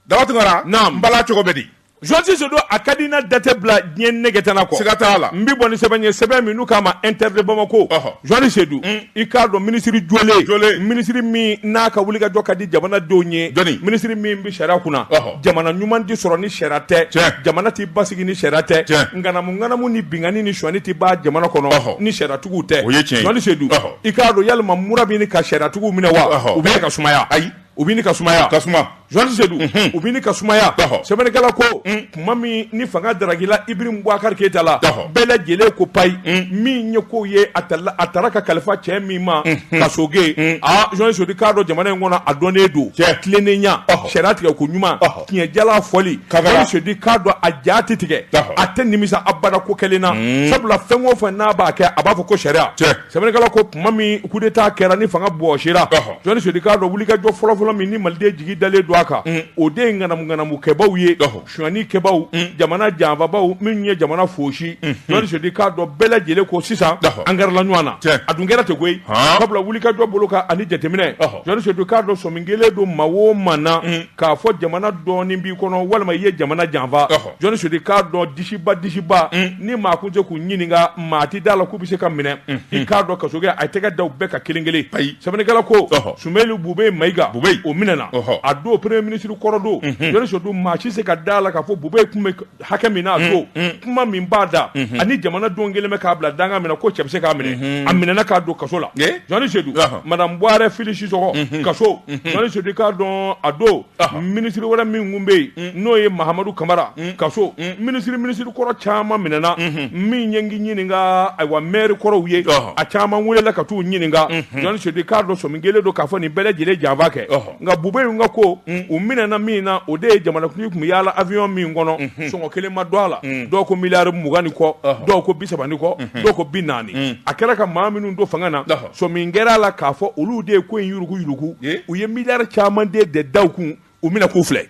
Daouda Toumara, naamu, Mbala cogo bɛ di Jɔni Seydou a ka di n na da tɛ bila diɲɛ nɛgɛtana kɔ siga t'a la n bɛ bɔ ni sɛbɛn ye sɛbɛn min n'u k'a ma inter de Bamako Ɔhɔ. Jɔni Seydou i k'a dɔn minisiri jɔlen Jɔlen. minisiri min n'a ka wulikajɔ ka di jamanadenw ye Dɔnni. minisiri min bɛ sariya kunna Ɔhɔ. jamana ɲuman tɛ sɔrɔ ni sariya tɛ Tiɲɛ. jamana tɛ basigi ni sariya tɛ Tiɲɛ. ŋanamu ŋanamu ni binkanni ni sonyani tɛ ban jamana kɔnɔ Ɔhɔ. ni sariyatigiw tɛ O ye tiɲɛ ye. Jɔni Seydou Ɔhɔ. i k'a dɔn yalima mura bɛ ɲini ka sariyatigiw minɛ wa Ɔhɔ. u bɛ ka sumaya ayi u bɛ ɲini ka sumaya ka suma Jɔni Seydou u bɛ ɲini ka sumaya sɛbɛnnikɛla ko tuma min ni fanga darakila Ibrahim Boubacar Keïta la bɛɛ lajɛlen ko payi min ye ko ye a a taara ka kalifa cɛ min ma Kassogué aaa Jɔni Seydou k'a dɔn jamana in kɔnɔ a dɔnnen don tilennenya sariya tigɛ ko ɲuman tiɲɛ jalan fɔli Jɔni Seydou k'a dɔn a ja tɛ tigɛ a tɛ nimisa abada ko kɛlen na sabula fɛn o fɛn n'a b'a kɛ a b'a fɔ ko sariya sɛbɛnnikɛla ko tuma min coup d'Etat kɛra ni fanga bɔsira, ɔhɔ, Jɔni Seydou k'a dɔn wulikajɔ fɔlɔfɔlɔ min ni malidenw jigi dalen don a kan, un, o de ye ŋanamu ŋanamu kɛbaaw ye, ɔhɔ, sonyani kɛbaaw, un, jamana janfabaaw minnu ye jamana fosi, unhun, Jɔni Seydou k'a dɔn bɛɛ lajɛlen ko sisan, ɔhɔ, an gɛrɛla ɲɔgɔn na, tiɲɛ, a dun kɛra ten koyi, han, sabula wulikajɔ bolo kan ani jateminɛ, ɔhɔ, Jɔni Seydou k'a dɔn sɔmi kɛlen don maa o maa na, un, k'a fɔ jamana dɔɔni b'i kɔnɔ walima i ye jamana janfa, ɔhɔ. Jɔni Seydou k'a dɔn disiba disiba ni maa kun tɛ se k'u ɲininka maa tɛ d'a la k'u bɛ se ka minɛ i k'a dɔn Kassogué a y'i tɛgɛ da u bɛɛ kan kelen kelen ayi sɛbɛnnikɛla ko Ɔhɔ. Soumeylou Boubèye Maïga Boubèye. o minɛna Ɔhɔ. a don premier ministre kɔrɔ don Jɔni Seydou maa si se ka d'a la k'a fɔ Boubèye kun bɛ hakɛ min na a don kuma min b'a da ani jamana don kelen bɛ k'a bila dankan min na ko cɛ bɛ se k'a minɛ a minɛna k'a don kaso la Ye. Jɔni Seydou Ɔhɔ. madame Bouaré Fily Sissoko kaso Jɔni Seydou k'a dɔn a don minisiri wɛrɛ min kun bɛ yen mm. n'o ye Mahamadou Camara mm. kaso mm. minisiri minisiri kɔrɔ caman minɛna min ye ɲininka ayiwa mɛri kɔrɔw ye a caman welela ka t'u ɲininka mm-hmm. Jɔni Seydou k'a dɔn sɔmi kɛlen don k'a fɔ nin bɛɛ lajɛlen janfa kɛ nka Boubèye in ka ko u minɛna min na o de ye jamanakuntigi kun bɛ yaala avion min kɔnɔ mm-hmm. sɔngɔ kelen ma dɔn a la dɔw ko miliyari mugan ni kɔ dɔw ko bi saba ni kɔ mm-hmm. dɔw ko bi naani a kɛra ka maa minnu don fanga na son min kɛra a la k'a fɔ olu de ye ko in yurugu yurugu ye u ye mi caman de de da kun u bɛna k'u filɛ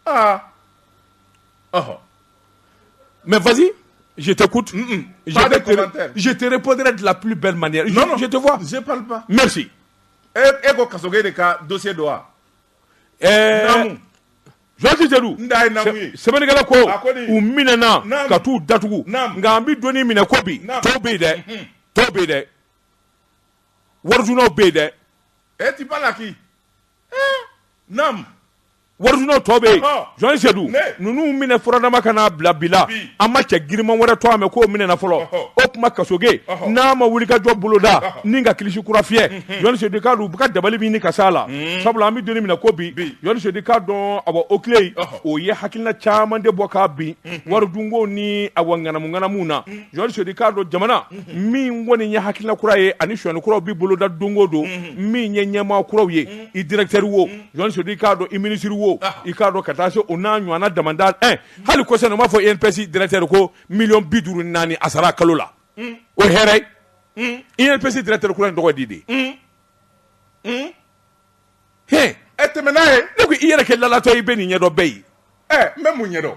aa ɔhɔ mɛ vazali je te coûte jete pɔnte dilan pbi bɛɛ manya jete fɔ mɛsi e e ko kaso de ka donsen don wa ɛɛ Jɔni Seydou sɛbɛnnikɛla ko u minɛna ka t'u datugu nka an bɛ donni minɛ ko bi tɔw bɛ yen dɛ mhm. tɔw bɛ yen dɛ warijunaw bɛ yen dɛ. e ti ba la k'i nam warijunaw tɔw bɛ yen Jɔni Seydou ninnu minɛ furadama ka n'a bila bi la an ma cɛ giriman wɛrɛ tɔgɔ mɛn k'o minɛna fɔlɔ o tuma Kassogué n'a ma wulikajɔ boloda ni ka kilisi kura fiyɛ. Sedu k'a dɔn u bɛ ka dabali min ɲini ka s'a la sabula an bɛ don min na ko bi Jɔn Sedu k'a dɔn awɔ OCLEI o ye hakilina caman de bɔ ka bin wari dunko ni awɔ ŋanamuŋanamu na Jɔn Sedu k'a dɔn jamana min kɔni ye hakilina kura ye ani sonyani kuraw bɛ boloda don o don min ye ɲɛmaa kuraw ye i directeur wo Jɔn Sedu k'a dɔn i ministre wo i k'a dɔn ka taa se o n'a ɲɔgɔnna damadama hali kɔsa u b'a fɔ INPS directeur ko miliyɔn bi duuru ni naani a sara kalo la o hɛrɛ i ye psi dira terikɛk in tɔgɔ di de h e tɛmɛ n'a ye ne ko i yɛrɛ kɛ latɔ i bɛ nin ɲɛdɔn bɛɛ ye ɛ n bɛ mun ɲɛdɔn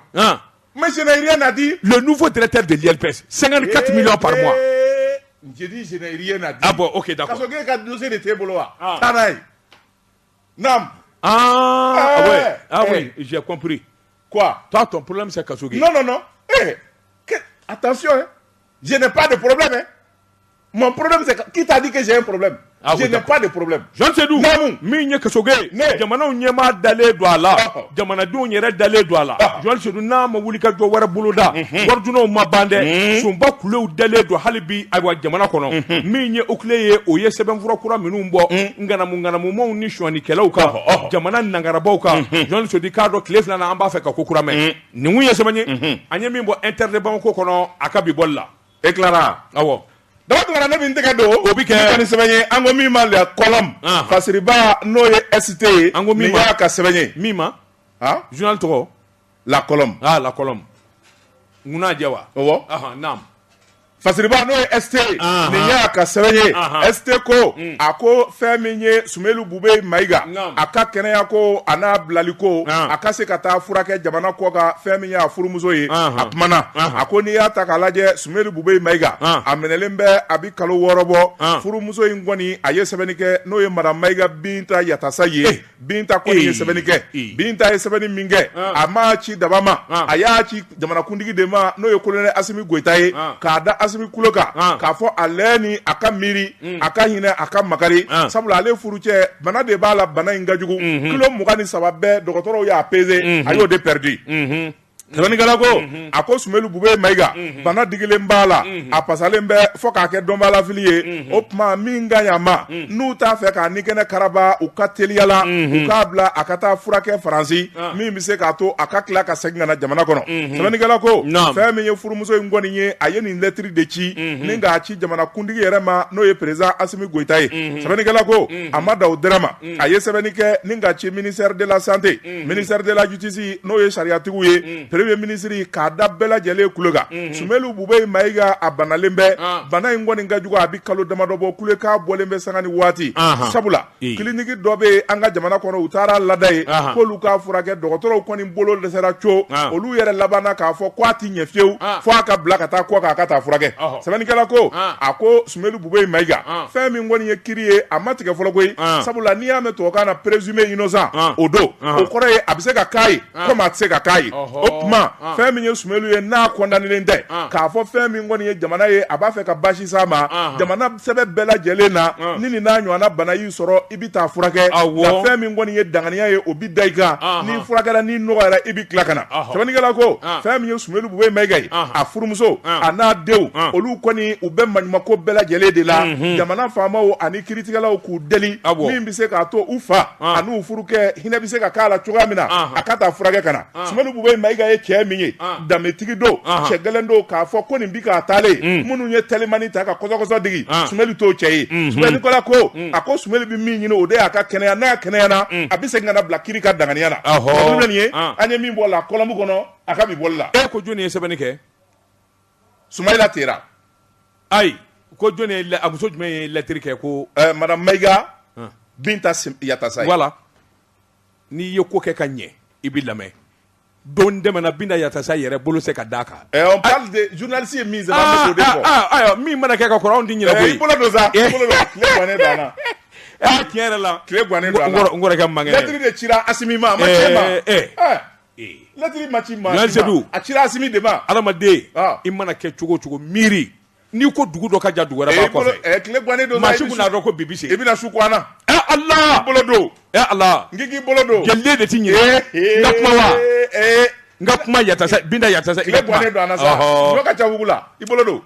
ma i na di fɔ tɛ tɛ deli sanga ka tɛmɛ jɔ pa bɔ o ke ka de t'e bolo wa Namu awɔ j'ai compris quoi toi ton problème c'est Kasoge non non ee attention je n'ai pas de problème dɛ mon problème c'est qui t'a dit que j'ai problème je n'ai pas de problème Jɔn Sedu min ye Kasoge ye jamanaw ɲɛmaa dalen don a la jamanadenw yɛrɛ dalen don a la Jɔn Sedu n'a ma wuli ka jɔ wɛrɛ boloda waridunnaw ma ban dɛ sunba kulew dalen don hali bi ayiwa jamana kɔnɔ min ye OCLEI ye o ye sɛbɛnfura kura minnu bɔ ŋanamuŋanamumaw ni sonyanikɛlaw kan ɔhɔ, ɔhɔ. jamana nangarabaw kan Jɔn Sedu k'a dɔn tile filana an b'a fɛ ka ko kura mɛn nin kun ye sɛbɛn ye an ye min bɔ Inter de Bamako kɔnɔ a ka bi bɔli la e tilara awɔ daba tugara ne min tɛgɛ don o bi kɛ ka nin sɛbɛn ye an ko min ma La Colombe Ahan. fasiriba n'o ye ST ye An ko min nin ma- y'a ka sɛbɛn ye min ma han journal tɔgɔ La Colombe aa La Colombe ŋa jɛ wa ɔwɔ naamu fasiriba n'o ye ST nin y'a ka sɛbɛn ye ST ko a ko fɛn min ye Sumeyilu Bubɛyi Mayiga a ka kɛnɛya ko a n'a bilali ko a ka se ka taa furakɛ jamana kɔkan fɛn min y'a furumuso ye a kumana a ko n'i y'a ta k'a lajɛ Sumeyilu Bubɛyi Mayiga a minɛlen bɛ a bɛ kalo wɔɔrɔ bɔ furumuso in kɔni a ye sɛbɛnni kɛ n'o ye Madamu Mayiga Binta Yatasayi Binta kɔni ye sɛbɛnni kɛ Binta ye sɛbɛnni min kɛ a m'a ci daba ma a y'a ci jamanakuntigi de ma n'o ye kolonɛli Asimi Goyita ye k'a da Asimi kulo kan k'a fɔ ale ni a ka miiri a ka hinɛ a ka makari sabula ale furucɛ bana de b'a la bana in ka jugu kilo mugan ni saba bɛɛ dɔgɔtɔrɔw y'a peze a y'o de pɛridi Sɛbɛnnikɛla ko a ko Sumeyilu Bubɛyi Mayiga bana digilen b'a la a pasalen bɛ fɔ k'a kɛ dɔnbalafili ye o tuma min ka ɲi a ma n'u t'a fɛ k'a ni kɛnɛ karaba u ka teliya la u k'a bila a ka taa furakɛ faransi min bɛ se k'a to a ka tila ka segin ka na jamana kɔnɔ sɛbɛnnikɛla ko fɛn min ye furumuso in kɔni ye a ye nin lɛtiri de ci ni k'a ci jamana kuntigi yɛrɛ ma n'o ye perezidan Asimi Goyita ye sɛbɛnnikɛla ko a ma dan o dɔrɔn ma a ye sɛbɛnni kɛ ni k'a ci ministère de la santé ministère de la justice n'o ye sariyatigiw ye Premier ministre k'a da bɛɛ lajɛlen kulo kan Sumelu Bube Mayiga a banalen bɛ bana in kɔni ka jugu a bɛ kalo damadɔ bɔ kule k'a bɔlen bɛ sanga ni waati sabula kliniki dɔ bɛ an ka jamana kɔnɔ u taara lada yen k'olu k'a furakɛ dɔgɔtɔrɔw kɔni bolo dɛsɛra co olu yɛrɛ labanna k'a fɔ k' a tɛ ɲɛ fiyewu fo a ka bila ka taa kɔkan a ka taa furakɛ sɛbɛnnikɛla ko a ko Sumelu Bube Mayiga, an, fɛn min kɔni ye kiri ye a ma tigɛ fɔlɔ koyi, an, sabula n'i y'a mɛn tubabukan na présumé innocent an, o don, anhan, o kɔrɔ ye a bɛ se ka k'a ye comme a tɛ se ka k'a ye, ɔhɔ, o tuma an, fɛn min ye Sumelu ye n'a condamnélen tɛ, an, k'a fɔ fɛn min kɔni ye jamana ye a b'a fɛ ka baasi s'a ma, anhan, jamana sɛbɛ bɛɛ lajɛlen na, an, ni nin n'a ɲɔgɔnna bana y'i sɔrɔ i bɛ taa furakɛ nka fɛn min kɔni ye danganiya ye o bɛ da i kan n'i furakɛra n'i nɔgɔyara i bɛ tila ka na sɛbɛnnikɛla ko fɛn min ye Sumelu Bube Mayiga ye a furumuso a n'a denw olu kɔni u bɛ maɲumako bɛɛ lajɛlen de la jamana faamaw ani kiiritigɛlaw k'u deli min bɛ se k'a to u fa ani u furukɛ hinɛ bɛ se ka k'a la cogoya min na a ka taa furakɛ ka na Sumelu Bube Mayiga ye cɛ min ye danbetigi don cɛ gɛlɛn don k'a fɔ ko nin bi ka taalen minnu ye telimani ta ka kɔsɔkɔsɔ digi Sumelu t'o cɛ ye sɛbɛnnikɛla ko a ko Sumelu bɛ min ɲini o de y'a ka kɛnɛya n'a kɛnɛyara a bɛ se ka na bila kiri ka danganiya la nin ye an ye min bɔ la kɔlɔmu kɔnɔ a ka bi bɔli la e ko jɔnni ye sɛbɛnni kɛ Sumayila Tera ayi ko jɔnni a muso jumɛn ye lɛtiri kɛ ko Madame Mayiga Binta Yatasa voilà n'i ye ko kɛ ka ɲɛ i bɛ lamɛn don dɛmɛna Binta Yatasa yɛrɛ bolo se ka d'a kan eh, journaliste ye min ah, ah, ah, ayiwa min mana kɛ ka kɔrɔ anw tɛ ɲinɛ koyi eh, i bolo don sa eh. i bolo don tile gannen don an na aa tiɲɛ yɛrɛ la tile gannen don an na n kɔrɔkɛ man kɛnɛ lɛtiri de cira Asimi ma a ma ci maa lɛtiri ma ci maa si ma a cira Asimi de ma adamaden i mana kɛ cogo o cogo miiri n'i ko dugu dɔ ka jan dugu wɛrɛ b'a kɔfɛ eh, tile gannen don maa si kun n'a dɔn ko bi bɛ se i bɛna su kuwana ɛ eh, Ala i bolo don ɛ eh, ala n k'i bolo don jɛliden de ti ɲɛ n ka kuma wa n ka kuma Yatasa Binta Yatasa i ka kuma tile gannen don an na sa ɲɔ ka ca wugu la i bolo don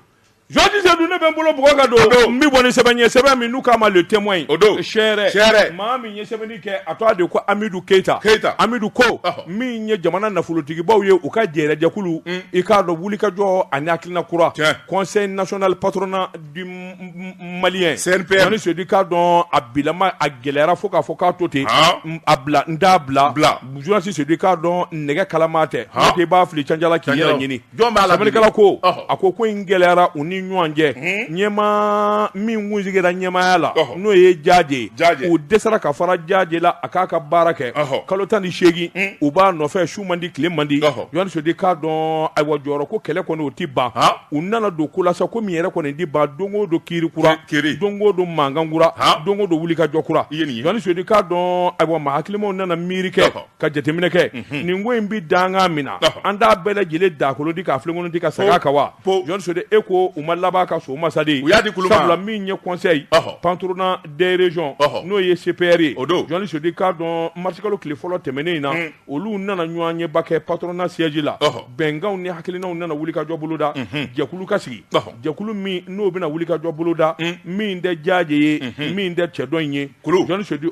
Jɔnji Sedu ne bɛ n bolo bugɔ ka don n bɛ bɔ ni sɛbɛn ye sɛbɛn min n'u k'a ma le témoin o don seere maa min ye sɛbɛnni kɛ a tɔgɔ de ko Amidu Keyita, Keyita, Amidu ko, ɔhɔ, min ye jamana nafolotigibaw ye u ka jɛrɛjɛkulu, un, i k'a dɔn wulikajɔ ani hakilina kura, tiɲɛ, conseil national patronat du malien, CNPM, Jɔnji Sedu k'a dɔn a bilama a gɛlɛyara fo k'a fɔ k'a to ten, han, a bila n t'a bila, bila, journaliste Sedu k'a dɔn nɛgɛ kalaman tɛ, han, n'o tɛ i b'a fili canjala k'i yɛrɛ ɲini Jɔn b'a la bi? Sɛbɛnnikɛla ko, Ɔhɔ. a ko ko in gɛlɛyara u ni ɲɔgɔn cɛ, ɲɛmaa min kun sigira ɲɛmaaya la, Ɔhɔ. n'o ye Jaje ye, Jaje. u dɛsɛra ka fara Jaje la a k'a ka baara kɛ, Ɔhɔ. kalo tan ni seegin u b'a nɔfɛ su man di tile man di, Ɔhɔ. Jɔnji Sedu k'a dɔn ayiwa jɔyɔrɔ ko kɛlɛ kɔni o tɛ ban, Han. u nana don ko la sa ko min yɛrɛ kɔni tɛ ban don o don kiiri kura, Ki- kiiri. don o don mankan kura, Han. don o don wulikajɔ kura, I ye nin ye. Jɔnji Sedu k'a dɔn ayiwa maa hakilimaw nana miiri kɛ Ɔhɔ. ka jateminɛ kɛ nin ko in bɛ dankan min na an t'a bɛɛ lajɛlen dakolo ti k'a filenkolo ti ka segin a kan wa journaliste sedu e ko u ma laban ka so masadi u y'a di kulu sabula min ye conseil patronat des régions n'o ye CPR ye journaliste sedu k'a dɔn marisikalo tile fɔlɔ tɛmɛnen in na olu nana ɲɔgɔnyeba kɛ patronat siège la bɛnkanw ni hakilinaw nana wulikajɔ boloda jɛkulu ka sigi jɛkulu min n'o bɛna wulikajɔ boloda min tɛ jaaje ye min tɛ cɛ dɔ in ye journaliste sedu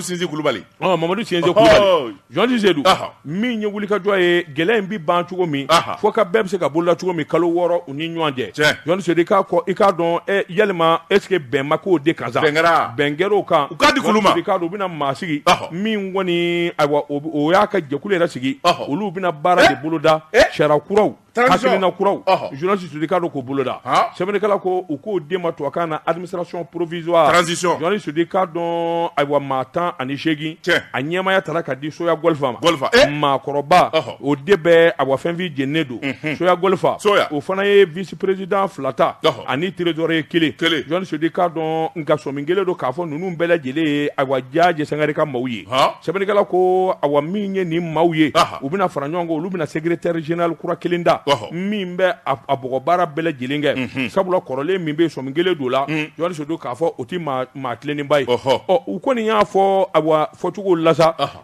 sinsi kulubali Ɔ Mamadu Sinsi Kulubali, journaliste Sedu, ɔhɔ, min ye wulikajɔ ye gɛlɛya in bɛ ban cogo min, ɔhɔ, fo ka bɛɛ bɛ se ka boloda cogo min kalo wɔɔrɔ u ni ɲɔgɔn cɛ, tiɲɛ, journaliste Sedu i k'a dɔn ɛ yalima est ce que bɛn ma k'o de kan sa, bɛn kɛra, bɛn kɛra o kan, u k'a di kulu ma, journaliste Sedu i k'a dɔn u bɛna maa sigi, ɔhɔ, min kɔni ayiwa o y'a ka jɛkulu yɛrɛ sigi, ɔhɔ, olu bɛna baara de boloda, e, sariya kuraw na kuraw journaliste sedu k'a dɔn k'u boloda sɛbɛnnikɛla ko u k'o de ma tubabukan na administration provisoire transition journaliste sedu k'a dɔn ayiwa maa tan ani seegin a ɲɛmaya tara ka di soya gɔlifa ma maakɔrɔba o de bɛ awa finfin jeninen don soya gɔlifa o fana ye vice président fila ta ani trésorier kelen journaliste sedu k'a dɔn nka sɔmi kelen don k'a fɔ ninnu bɛɛ lajɛlen ye awa jaaje sangare ka maaw ye sɛbɛnnikɛla ko awa min ye nin maaw ye u bɛna fara ɲɔgɔn kan olu bɛna secrétaire général kura kelen da min bɛ a bɔgɔbaara bɛɛ lajɛlen kɛ sabula kɔrɔlen min bɛ sɔmi kelen don la journaliste sedu k'a fɔ o tɛ maa tilennenba ye ɔ u kɔni y'a fɔ a fɔcogo la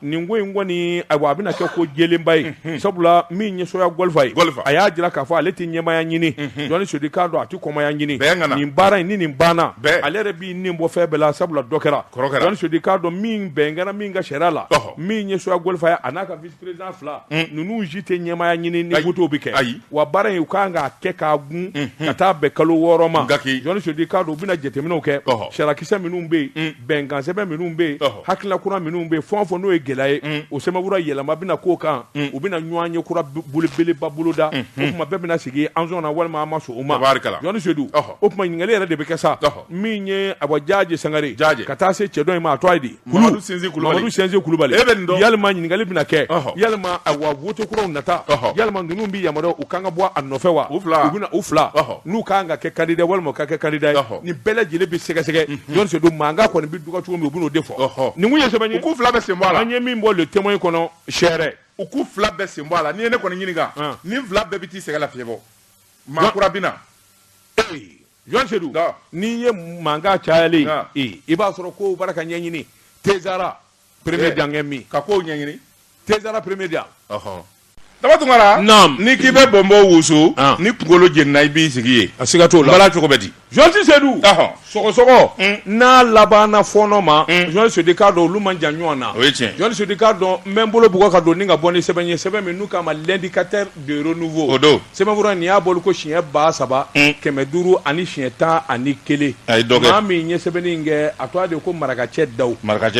nin ko in kɔni a a bɛna kɛ ko jɛlenba ye sabula min ye soya gɔlifa ye a y'a jira k'a fɔ ale tɛ ɲɛmaya ɲini journaliste sedu k'a dɔn a tɛ kɔmaya ɲini kana nin baara in ni nin banna ale yɛrɛ b'i nin bɔ fɛn bɛɛ la sabula dɔ kɛra journaliste sedu k'a dɔn min bɛn kɛra min kan sariya la min ye soya gɔlifa ye a n'a ka vice président fila ninnu si tɛ ɲɛmaaya ɲini ni vote bɛ kɛ ayiwa baara in u ka kan k'a kɛ k'a gun ka taa bɛn kalo wɔɔrɔ ma journaliste sedu k'a dɔn u bɛna jateminɛw kɛ sarakisɛ minnu bɛ yen bɛnkan sɛbɛn minnu bɛ yen hakilina kura minnu bɛ yen fɛn o fɛn n'o ye gɛlɛya ye o sɛbɛnfura yɛlɛma bɛna k'o kan u bɛna ɲɔgɔnye kura belebeleba boloda o tuma bɛɛ bɛna sigi an sɔnna walima an ma sɔn o ma tabarikala journaliste sedu o tuma ɲininkali yɛrɛ de bɛ kɛ sa min ye awa jaaje sangare jaaje ka taa se cɛ dɔ in ma a tɔgɔ ye di Kulubali kulubali yalima ɲininkali bɛna kɛ yalima awa vote kuraw nata yalima ninnu bɛ yamaruya u ka kan ka bɔ a nɔfɛ wa u bɛ u fila n'u ka kan ka kɛ candidat walima ka kɛ candidat nin bɛɛ lajɛlen bɛ sɛgɛsɛgɛ journaliste mankan kɔni bɛ dugawu cogo min u b'o de fɔ ye k'u fila bɛɛ sen bɔ a la an ye min bɔ le témoin kɔnɔ sɛrɛ u k'u fila bɛɛ sen bɔ a la n'i ye ne kɔni ɲininka nin fila bɛɛ bɛ taa sɛgɛnlafiɲɛbɔ maa kura bɛ na Journaliste Seydou n'i ye mankan cayalen i b'a sɔrɔ ko b'a ra ka ɲɛɲini tezsara premier dankɛ min ka ko ɲɛɲini tezsara premier dan Daba Tunkara ni k'i bɛ bɔnbɔ wusu ni kunkolo jeni na i b'i sigi ye a siga t'o la cogo bɛ di journaliste Seydou sɔgɔsɔgɔ n'a labanna fɔɔnɔ ma journaliste Seydou i k'a dɔn olu man jan ɲɔgɔn na o ye tiɲɛ journaliste Seydou i k'a dɔn n bɛ n bolo bugɔ ka don ni ka bɔ ni sɛbɛn ye sɛbɛn min n'u k'a ma l'indicateur de renouveau o don Sɛbɛnfura nin y'a bolo ko siɲɛ ba saba kɛmɛ duuru ani siɲɛ tan ani kelen maa min ye sɛbɛnni in kɛ a tɔgɔ de ko Marakacɛ Dawu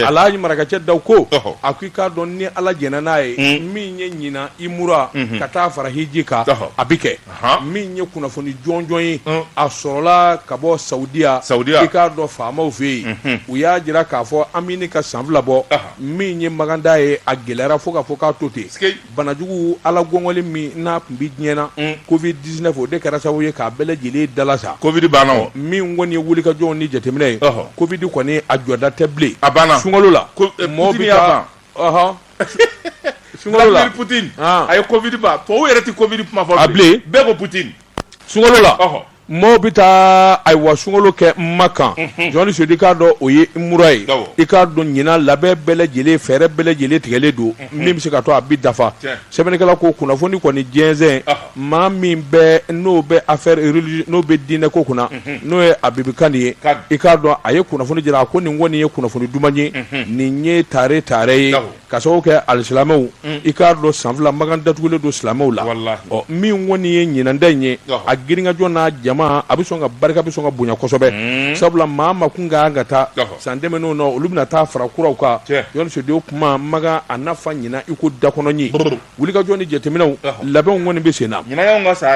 ala Marakacɛ Dawu ko a ko i k'a dɔn ni ala jɛnna n'a ye min ye ɲinan umura ka taa fara hiji kan a bɛ kɛ min ye kunnafoni jɔnjɔn ye a sɔrɔla ka bɔ Saudiya sa i k'a dɔn faamaw fɛ yen u y'a jira k'a fɔ an bɛ ka san fila bɔ min ye makan taa ye a gɛlɛyara fo ka fɔ k'a to ten banajugu ala gɔngɔli min n'a tun bɛ diɲɛ na mm. covid 19 o de kɛra sababu ye k'a bɛɛ lajɛlen dala sa covid banna o min kɔni ye wulikajɔw ni jateminɛ ye covid kɔni a jɔda tɛ bilen a banna sunkalo la eh, mɔgɔ bɛ taa ɔhɔn sunkalo la Vladimir Poutine a ye covid ban tubabu yɛrɛ tɛ covid kuma fɔ bilen bɛɛ ko Poutine sunkalo la maaw bɛ taa ayiwa sunkalo kɛ Makan journaliste Seydou i k'a dɔn o ye umura ye i k'a dɔn ɲinan labɛn bɛɛ lajɛlen fɛɛrɛ bɛɛ lajɛlen tigɛlen don min bɛ se ka to a bi dafa sɛbɛnnikɛla ko kunnafoni kɔni jɛnsɛn maa min bɛ n'o bɛ affaire religieux n'o bɛ diinɛ ko kunna n'o ye Habib Kane ye i k'a dɔn a ye kunnafoni jira a ko nin kɔni ye kunnafoni duman ye nin ye tare tare ye ka sababu kɛ alisilamɛw mm. i k'a dɔn san fila makan datugulen don silamɛw la ɔ min kɔni ye ɲinan ta in ye a girinkajɔ n'a jama a bɛ sɔn ka barika bɛ sɔn ka bonya kosɛbɛ mm. sabula maa min kun ka kan ka taa san tɛmɛnenw na olu bɛna taa fara kuraw kan journaliste Seydou kuma makan a na fa ɲinan i ko dakɔnɔɲin wulikajɔ ni jateminɛw labɛnw kɔni bɛ sen na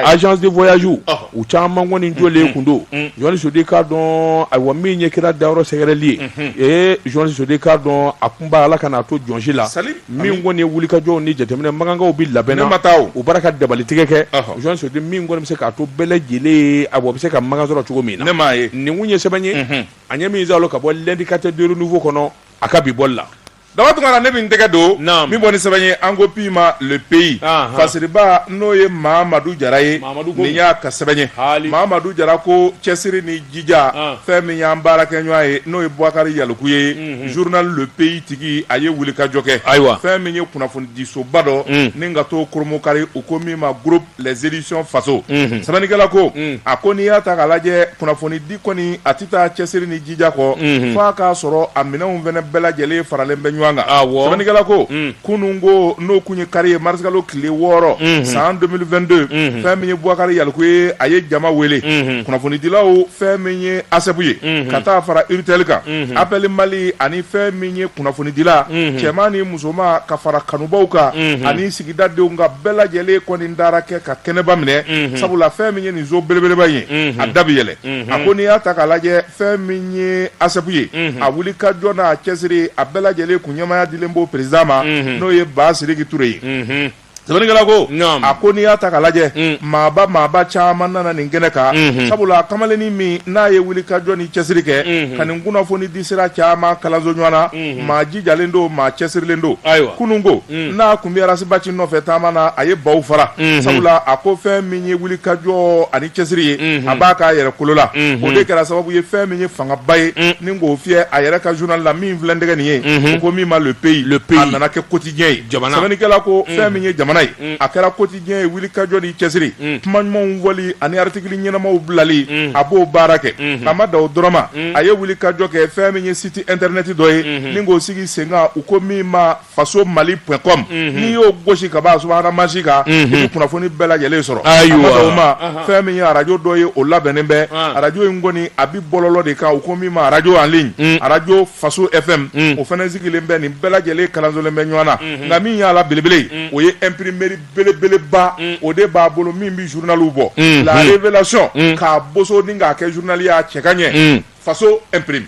agence de voyage u caman kɔni jɔlen kun don journaliste Seydou i k'a dɔn ayiwa min ye kira dayɔrɔ sɛgɛrɛli ye ee journaliste Seydou i k'a dɔn a kunba ala kan'a to jɔn si la min kɔni ye wulikajɔw ni jateminɛ makankaw bɛ labɛn na u b'a ra ka dabali tigɛ kɛ journaliste Seydou min kɔni bɛ se k'a to bɛɛ lajɛlen ye ayiwa bɛ se ka makan sɔrɔ cogo min na nin kun ye sɛbɛn ye an ye min zalo ka bɔ l'indicateur de renouveau kɔnɔ a ka bi bɔli la Daba Tunkara ne bɛ n tɛgɛ don min bɔ ni sɛbɛn ye an ko min ma le pays fasiriba n'o ye mamadu jara ye nin y'a ka sɛbɛn ye mamadu jara ko cɛsiri ni jija fɛn min y'an baarakɛɲɔgɔn ye n'o ye Boubacar Yalkoué journal le pays tigi a ye wulikajɔ kɛ ayiwa fɛn min ye kunnafonidisoba dɔ ni ka to koromkari u ko min ma les éditions faso sɛbɛnnikɛla ko a ko n'i y'a ta k'a lajɛ kunnafoni di kɔni a tɛ taa cɛsiri ni jija kɔ f'a k'a sɔrɔ a minɛnw fana bɛɛ lajɛlen faralen bɛ ɲɔgɔn kan sɛbɛnnikɛla ko kunun ko n'o kun ye kari ye marisikalo tile wɔɔrɔ san 2022 fɛn min ye Bubakari Yaliku ye a ye jama wele kunnafonidilaw fɛn min ye ASSEP ye ka taa fara URTEL kan APPEL Mali ani fɛn min ye kunnafonidila cɛman ni musoman ka fara kanubaw kan ani sigi dadenw ka bɛɛ lajɛlen kɔni dara kɛ ka kɛnɛba minɛ sabula fɛn min ye nin so belebeleba ye a da bi yɛlɛ a ko n'i y'a ta k'a lajɛ fɛn min ye ASSEP ye a wuli ka jɔ n'a cɛsiri a bɛɛ lajɛlen kun ɲɛmaaya dilen b'o président ma n'o ye Basiriki Ture ye sɛbɛnnikɛla ko a ko n'i y'a ta k'a lajɛ maaba maaba caman nana nin kɛnɛ kan sabula kamalennin min n'a ye wuli ka jɔ ni cɛsiri kɛ ka nin kunnafoni di sira caman kalanso ɲɔgɔn na maa jijalen don maa cɛsirilen don kunun ko mm. n'a kun bɛ arasibaci nɔfɛ taama na a ye baw fara mm-hmm. sabula a ko fɛn min ye wuli ka jɔ ani cɛsiri ye mm-hmm. a b'a k'a yɛrɛ kolo la mm-hmm. o de kɛra sababu ye fɛn min ye fangaba ye mm. ni k'o fiyɛ a yɛrɛ ka journal la min filɛ tɛgɛ nin ye o ko min ma le pays le pays a nana kɛ quotidien ye jamana sɛbɛnnikɛla ko mm. fɛn min ye jamana ye mm. a kɛra quotidien ye wuli ka jɔ ni cɛsiri kuma ɲumanw fɔli ani artikili ɲɛnamaw bilali a b'o baara kɛ a ma dan o dɔrɔn ma a ye wuli ka jɔ kɛ fɛn min ye site internet dɔ ye ni k'o sigi senkan u ko min ma faso mali point com mhm. n'i y'o gosi ka b'a subahana mansin kan i mhm. bɛ kunnafoni bɛɛ lajɛlen sɔrɔ a ma dan o ma fɛn min ye arajo dɔ ye o labɛnnen bɛ arajo in kɔni a bi bɔlɔlɔ de kan u ko min ma arajo en ligne mm. arajo faso fm mm. o fana sigilen bɛ nin bɛɛ lajɛlen kalansolen bɛ ɲɔgɔn na mhm. nka min y'a la belebele mm. o ye imprimerie belebeleba o de b'a bolo min bɛ journaliw bɔ la révélation k'a boso ni k'a kɛ journal y'a cɛ ka ɲɛ faso imprime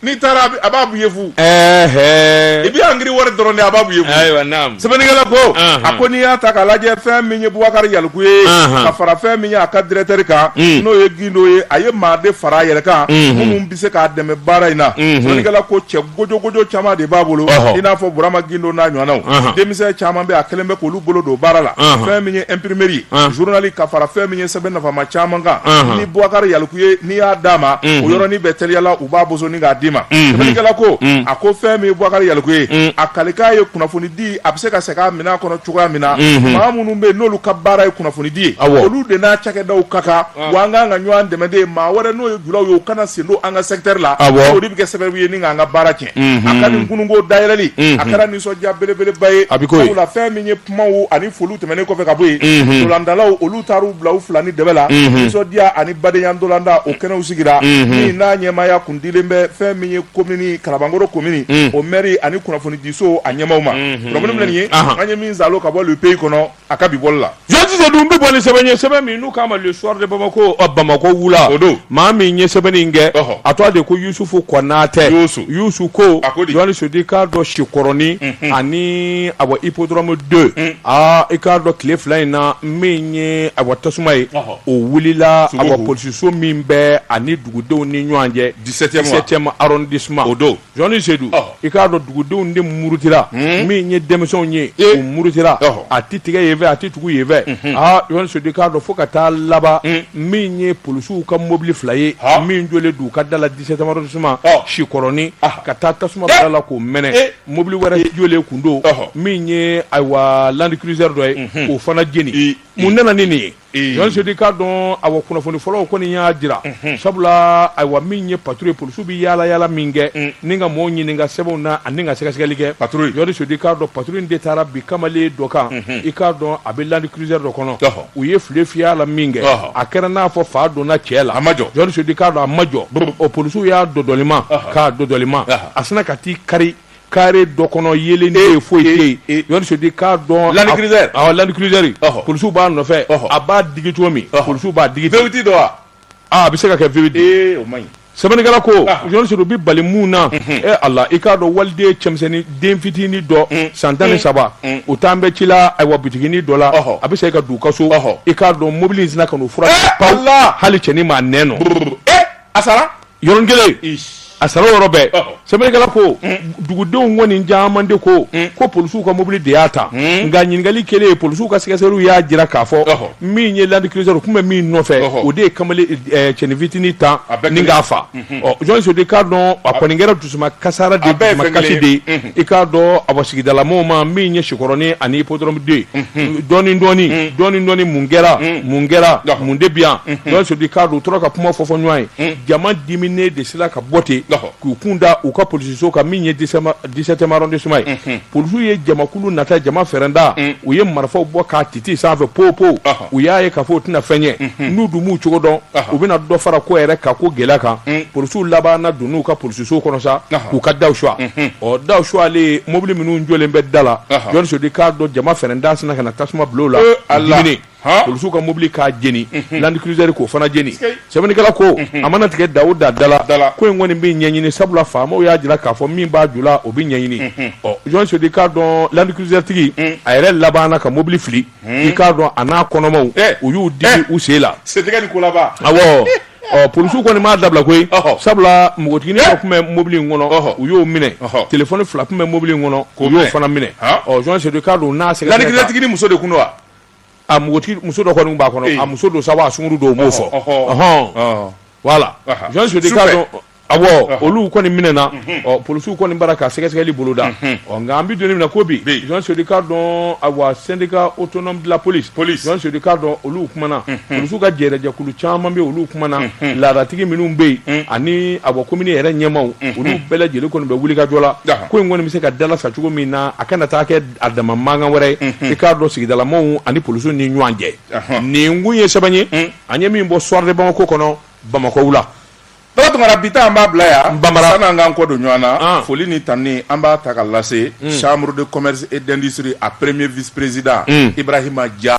n'i taara a b'a bɔ i ye fu i bɛ angiri wari dɔrɔn de a b'a bɔ i ye fu sɛbɛnnikɛla ko a ko n'i y'a ta k'a lajɛ fɛn min ye Bubakari Yaliku ye ka fara fɛn min ye a ka directeur kan n'o ye Gindo ye a ye maa de fara a yɛrɛ kan minnu bɛ se k'a dɛmɛ baara in na sɛbɛnnikɛla ko cɛ gojogojo caman de b'a bolo i n'a fɔ Burama Gindo n'a ɲɔgɔnnaw denmisɛn caman bɛ a kɛlen bɛ k'olu bolo don baara la fɛn min ye imprimerie journal ka fara fɛn min ye sɛbɛn nafama caman kan ni Bubakari Yaliku ye n'i y'a d'a ma o yɔrɔnin bɛɛ teliyala u b'a boso ni k'a d'i ma sɛbɛnnikɛla ko a ko fɛn min ye Bubakari Yaliku ye a kalikan ye kunnafoni di a bɛ se ka segin a minɛn kɔnɔ cogoya min na maa minnu bɛ yen n'olu ka baara ye kunnafoni di ye olu de n'a cakɛdaw ka kan wa an kan ka ɲɔgɔn dɛmɛ de maa wɛrɛ n'o ye julaw ye u kana sen don an ka secteur la o de bɛ kɛ sababu ye ni k'an ka baara tiɲɛ. a ka nin kununko dayɛlɛli a kɛra nisɔndiya belebeleba ye sabula fɛn min ye kumaw ani foliw tɛmɛnen kɔfɛ ka bɔ yen ntolatannaw olu taara u bila u fila ni dɛbɛ la nisɔndiya ani badenya ntolatan o kɛnɛw sigira min n'a ɲɛmaaya kun dilen bɛ fɛn min ye commune Kalabankɔrɔ commune o maire ani kunnafonidisow a ɲɛmaw ma minnu ye an ye min saalo ka bɔ le pays kɔnɔ a ka bi bɔli la jɔnni sedu n bɛ bɔ ni sɛbɛn ye sɛbɛn min n'u k'a ma le soir de bamako ɔ bamako wula o don maa min ye sɛbɛnni in kɛ Ɔhɔ. a tɔgɔ de ko yusufu kɔnatɛ Yusu. yusu ko A ko di? jɔnni sedu i k'a dɔn sikɔrɔni ani awa hippodrome deux aa i k'a dɔn tile fila in na min ye awa tasuma ye Ɔhɔ. o wulila Sogo awa ho. polisiso min bɛ ani dugudenw ni ɲɔgɔn cɛ 17e wa? 17e arrondissement O don. Jɔnni sedu i k'a dɔn dugudenw de murutira hmm? min ye denmisɛnw ye u murutira a tɛ tigɛ yen fɛ a tɛ tugu yen fɛ hmm. aa jɔnni sedu i k'a dɔn fo ka taa laban hmm. min ye polisiw ka mɔbili fila ye min jɔlen don u ka da la 17e arrondissement sikɔrɔnin ah. ka taa tasuma bila a la k'o mɛnɛ eh. mɔbili wɛrɛ eh. jɔlen kun don min ye ayiwa land cruiser dɔ ye k'o fana jeni mun nana ni nin ye Sedu i k'a dɔn awa kunnafoni fɔlɔw kɔni y'a jira sabula ayiwa min ye patrouille ye polisiw bɛ yaala yaala min kɛ ni ka maaw ɲininka sɛbɛnw na ani ka sɛgɛsɛgɛli kɛ jɔnni sedu i k'a dɔn patrouille in de taara bin kamalen dɔ kan i k'a dɔn a bɛ land cruiser dɔ kɔnɔ u ye file fiyɛ a la min kɛ a kɛra n'a fɔ fa donna cɛ la a ma jɔ jɔnni sedu i k'a dɔn a ma jɔ o polisiw y'a dɔdɔlima k'a dɔdɔlima a sinna ka t'i kari carré dɔ kɔnɔ yeelen ye foyi tɛ jɔnni sedu i k'a dɔn land cruiser polisiw b'a nɔfɛ a b'a digi cogo min polisiw b'a digi V8 don wa a bɛ se ka kɛ V8 o man ɲi sɛbɛnnikɛla ko jɔnni sedu bɛ bali mun na e ala i k'a dɔn waliden cɛmisɛnnin den fitinin dɔ san tan ni saba o taalen bɛ ci la ayiwa bitiginin dɔ la a bɛ se ka don u ka so i k'a dɔn mobili in sinna ka n'o furan hali cɛnin maa n nɔ a sara yɔrɔnin kelen a sara o yɔrɔ bɛɛ sɛbɛnnikɛla ko dugudenw kɔni caman de ko ko polisiw ka mobili de y'a ta nka ɲininkali kɛlen polisiw ka sɛgɛsɛgɛliw y'a jira k'a fɔ min ye land cruiser tun bɛ min nɔfɛ o de ye kamalen cɛnin fitinin tan ni k'a faa ɔ jɔnni sedu i k'a dɔn a kɔni kɛra dusuman kasara de A bɛɛ ye dusuman fɛn kasi kelen de ye. ye Unhun. i k'a dɔn awa sigidalamaw ma min ye sikɔrɔnin ani hippodrome deux dɔɔni dɔɔni dɔɔni dɔɔni mun kɛra mun kɛra Ɔhɔ. mun de bi yan jɔnni sedu i k'a dɔn u tora ka kuma fɔ fɔ ɲɔgɔn ye jama diminen de sera ka bɔ ten Ɔhɔ. k'u kun da u ka polisiso kan min ye 17e arrondissement ye polisiw ye jamakulu natɔ jama fɛrɛnda u ye marifaw bɔ k'a titi sanfɛ pow pow Ɔhɔ. u y'a ye k'a fɔ o tɛna fɛn ye mhm. n'u dun m'u cogo dɔn u bɛna dɔ fara ko yɛrɛ ka ko gɛlɛya kan mm. polisiw labanna don n'u ka polisiso kɔnɔ sa k'u ka daw suwa mhm. ɔ daw suwalen mobili minnu jɔlen bɛ da la jɔnni sedu i k'a dɔn jama fɛrɛnda sinna ka na tasuma bila o la eh, min ye polisiw ka mobili k'a jeni mhm. land cruiser k'o fana jeni sɛbɛnnikɛla ko a mana tigɛ da o da la ko in kɔni bɛ ɲɛɲini sabula faamaw y'a jira k'a fɔ min b'a ju la o bɛ ɲɛɲini ɔ jɔnni sedu i k'a dɔn land cruiser tigi mm. a yɛrɛ labanna ka mobili fili i k'a dɔn a n'a kɔnɔmaw eh. u y'u digi eh. u sen la sentigɛ ni kolaba awɔ ɔ polisiw kɔni m'a dabila koyi sabula npogotigini dɔ eh. tun bɛ mobili in kɔnɔ u y'o minɛ telefɔni fila tun bɛ mobili in kɔnɔ u y'o fana minɛ ɔ jɔn sedu k'a dɔn n'a sɛgɛsɛgɛla tigitigi ni muso de kun don wa a npogotigi muso dɔ kɔni b'a kɔnɔ a muso don sabu a sunguru don u m'o fɔ ɔhɔn voilà jɔn sedu k'a dɔn Awɔ olu kɔni minɛna ɔ polisiw kɔni b'a la ka sɛgɛsɛgɛli boloda ɔ nka an bɛ don min na ko bi Jean Sodi k'a dɔn awɔ syndicat autonome de la police Jean Sodi k'a dɔn olu kumana polisiw ka jɛrɛjɛkulu caman bɛ olu kumana laadatigi minnu bɛ yen ani awa komini yɛrɛ ɲɛmaaw olu bɛɛ lajɛlen kɔni bɛ wulikajɔ la ko in kɔni bɛ se ka dalasa cogo min na a kana taa kɛ a dama mankan wɛrɛ ye i k'a dɔn sigidalamaw ani polisiw ni ɲɔgɔn cɛ nin kun ye sɛbɛn ye an ye min bɔ Soir de Bamako kɔnɔ Bamakɔw la Baba Tunkara bi ta an b'a bila yan sanni an k'an kɔ don ɲɔgɔn na foli ni tanuni an b'a ta k'a lase mm. chambre de commerce et d'industrie a premier vice-président mm. Ibrahima Dia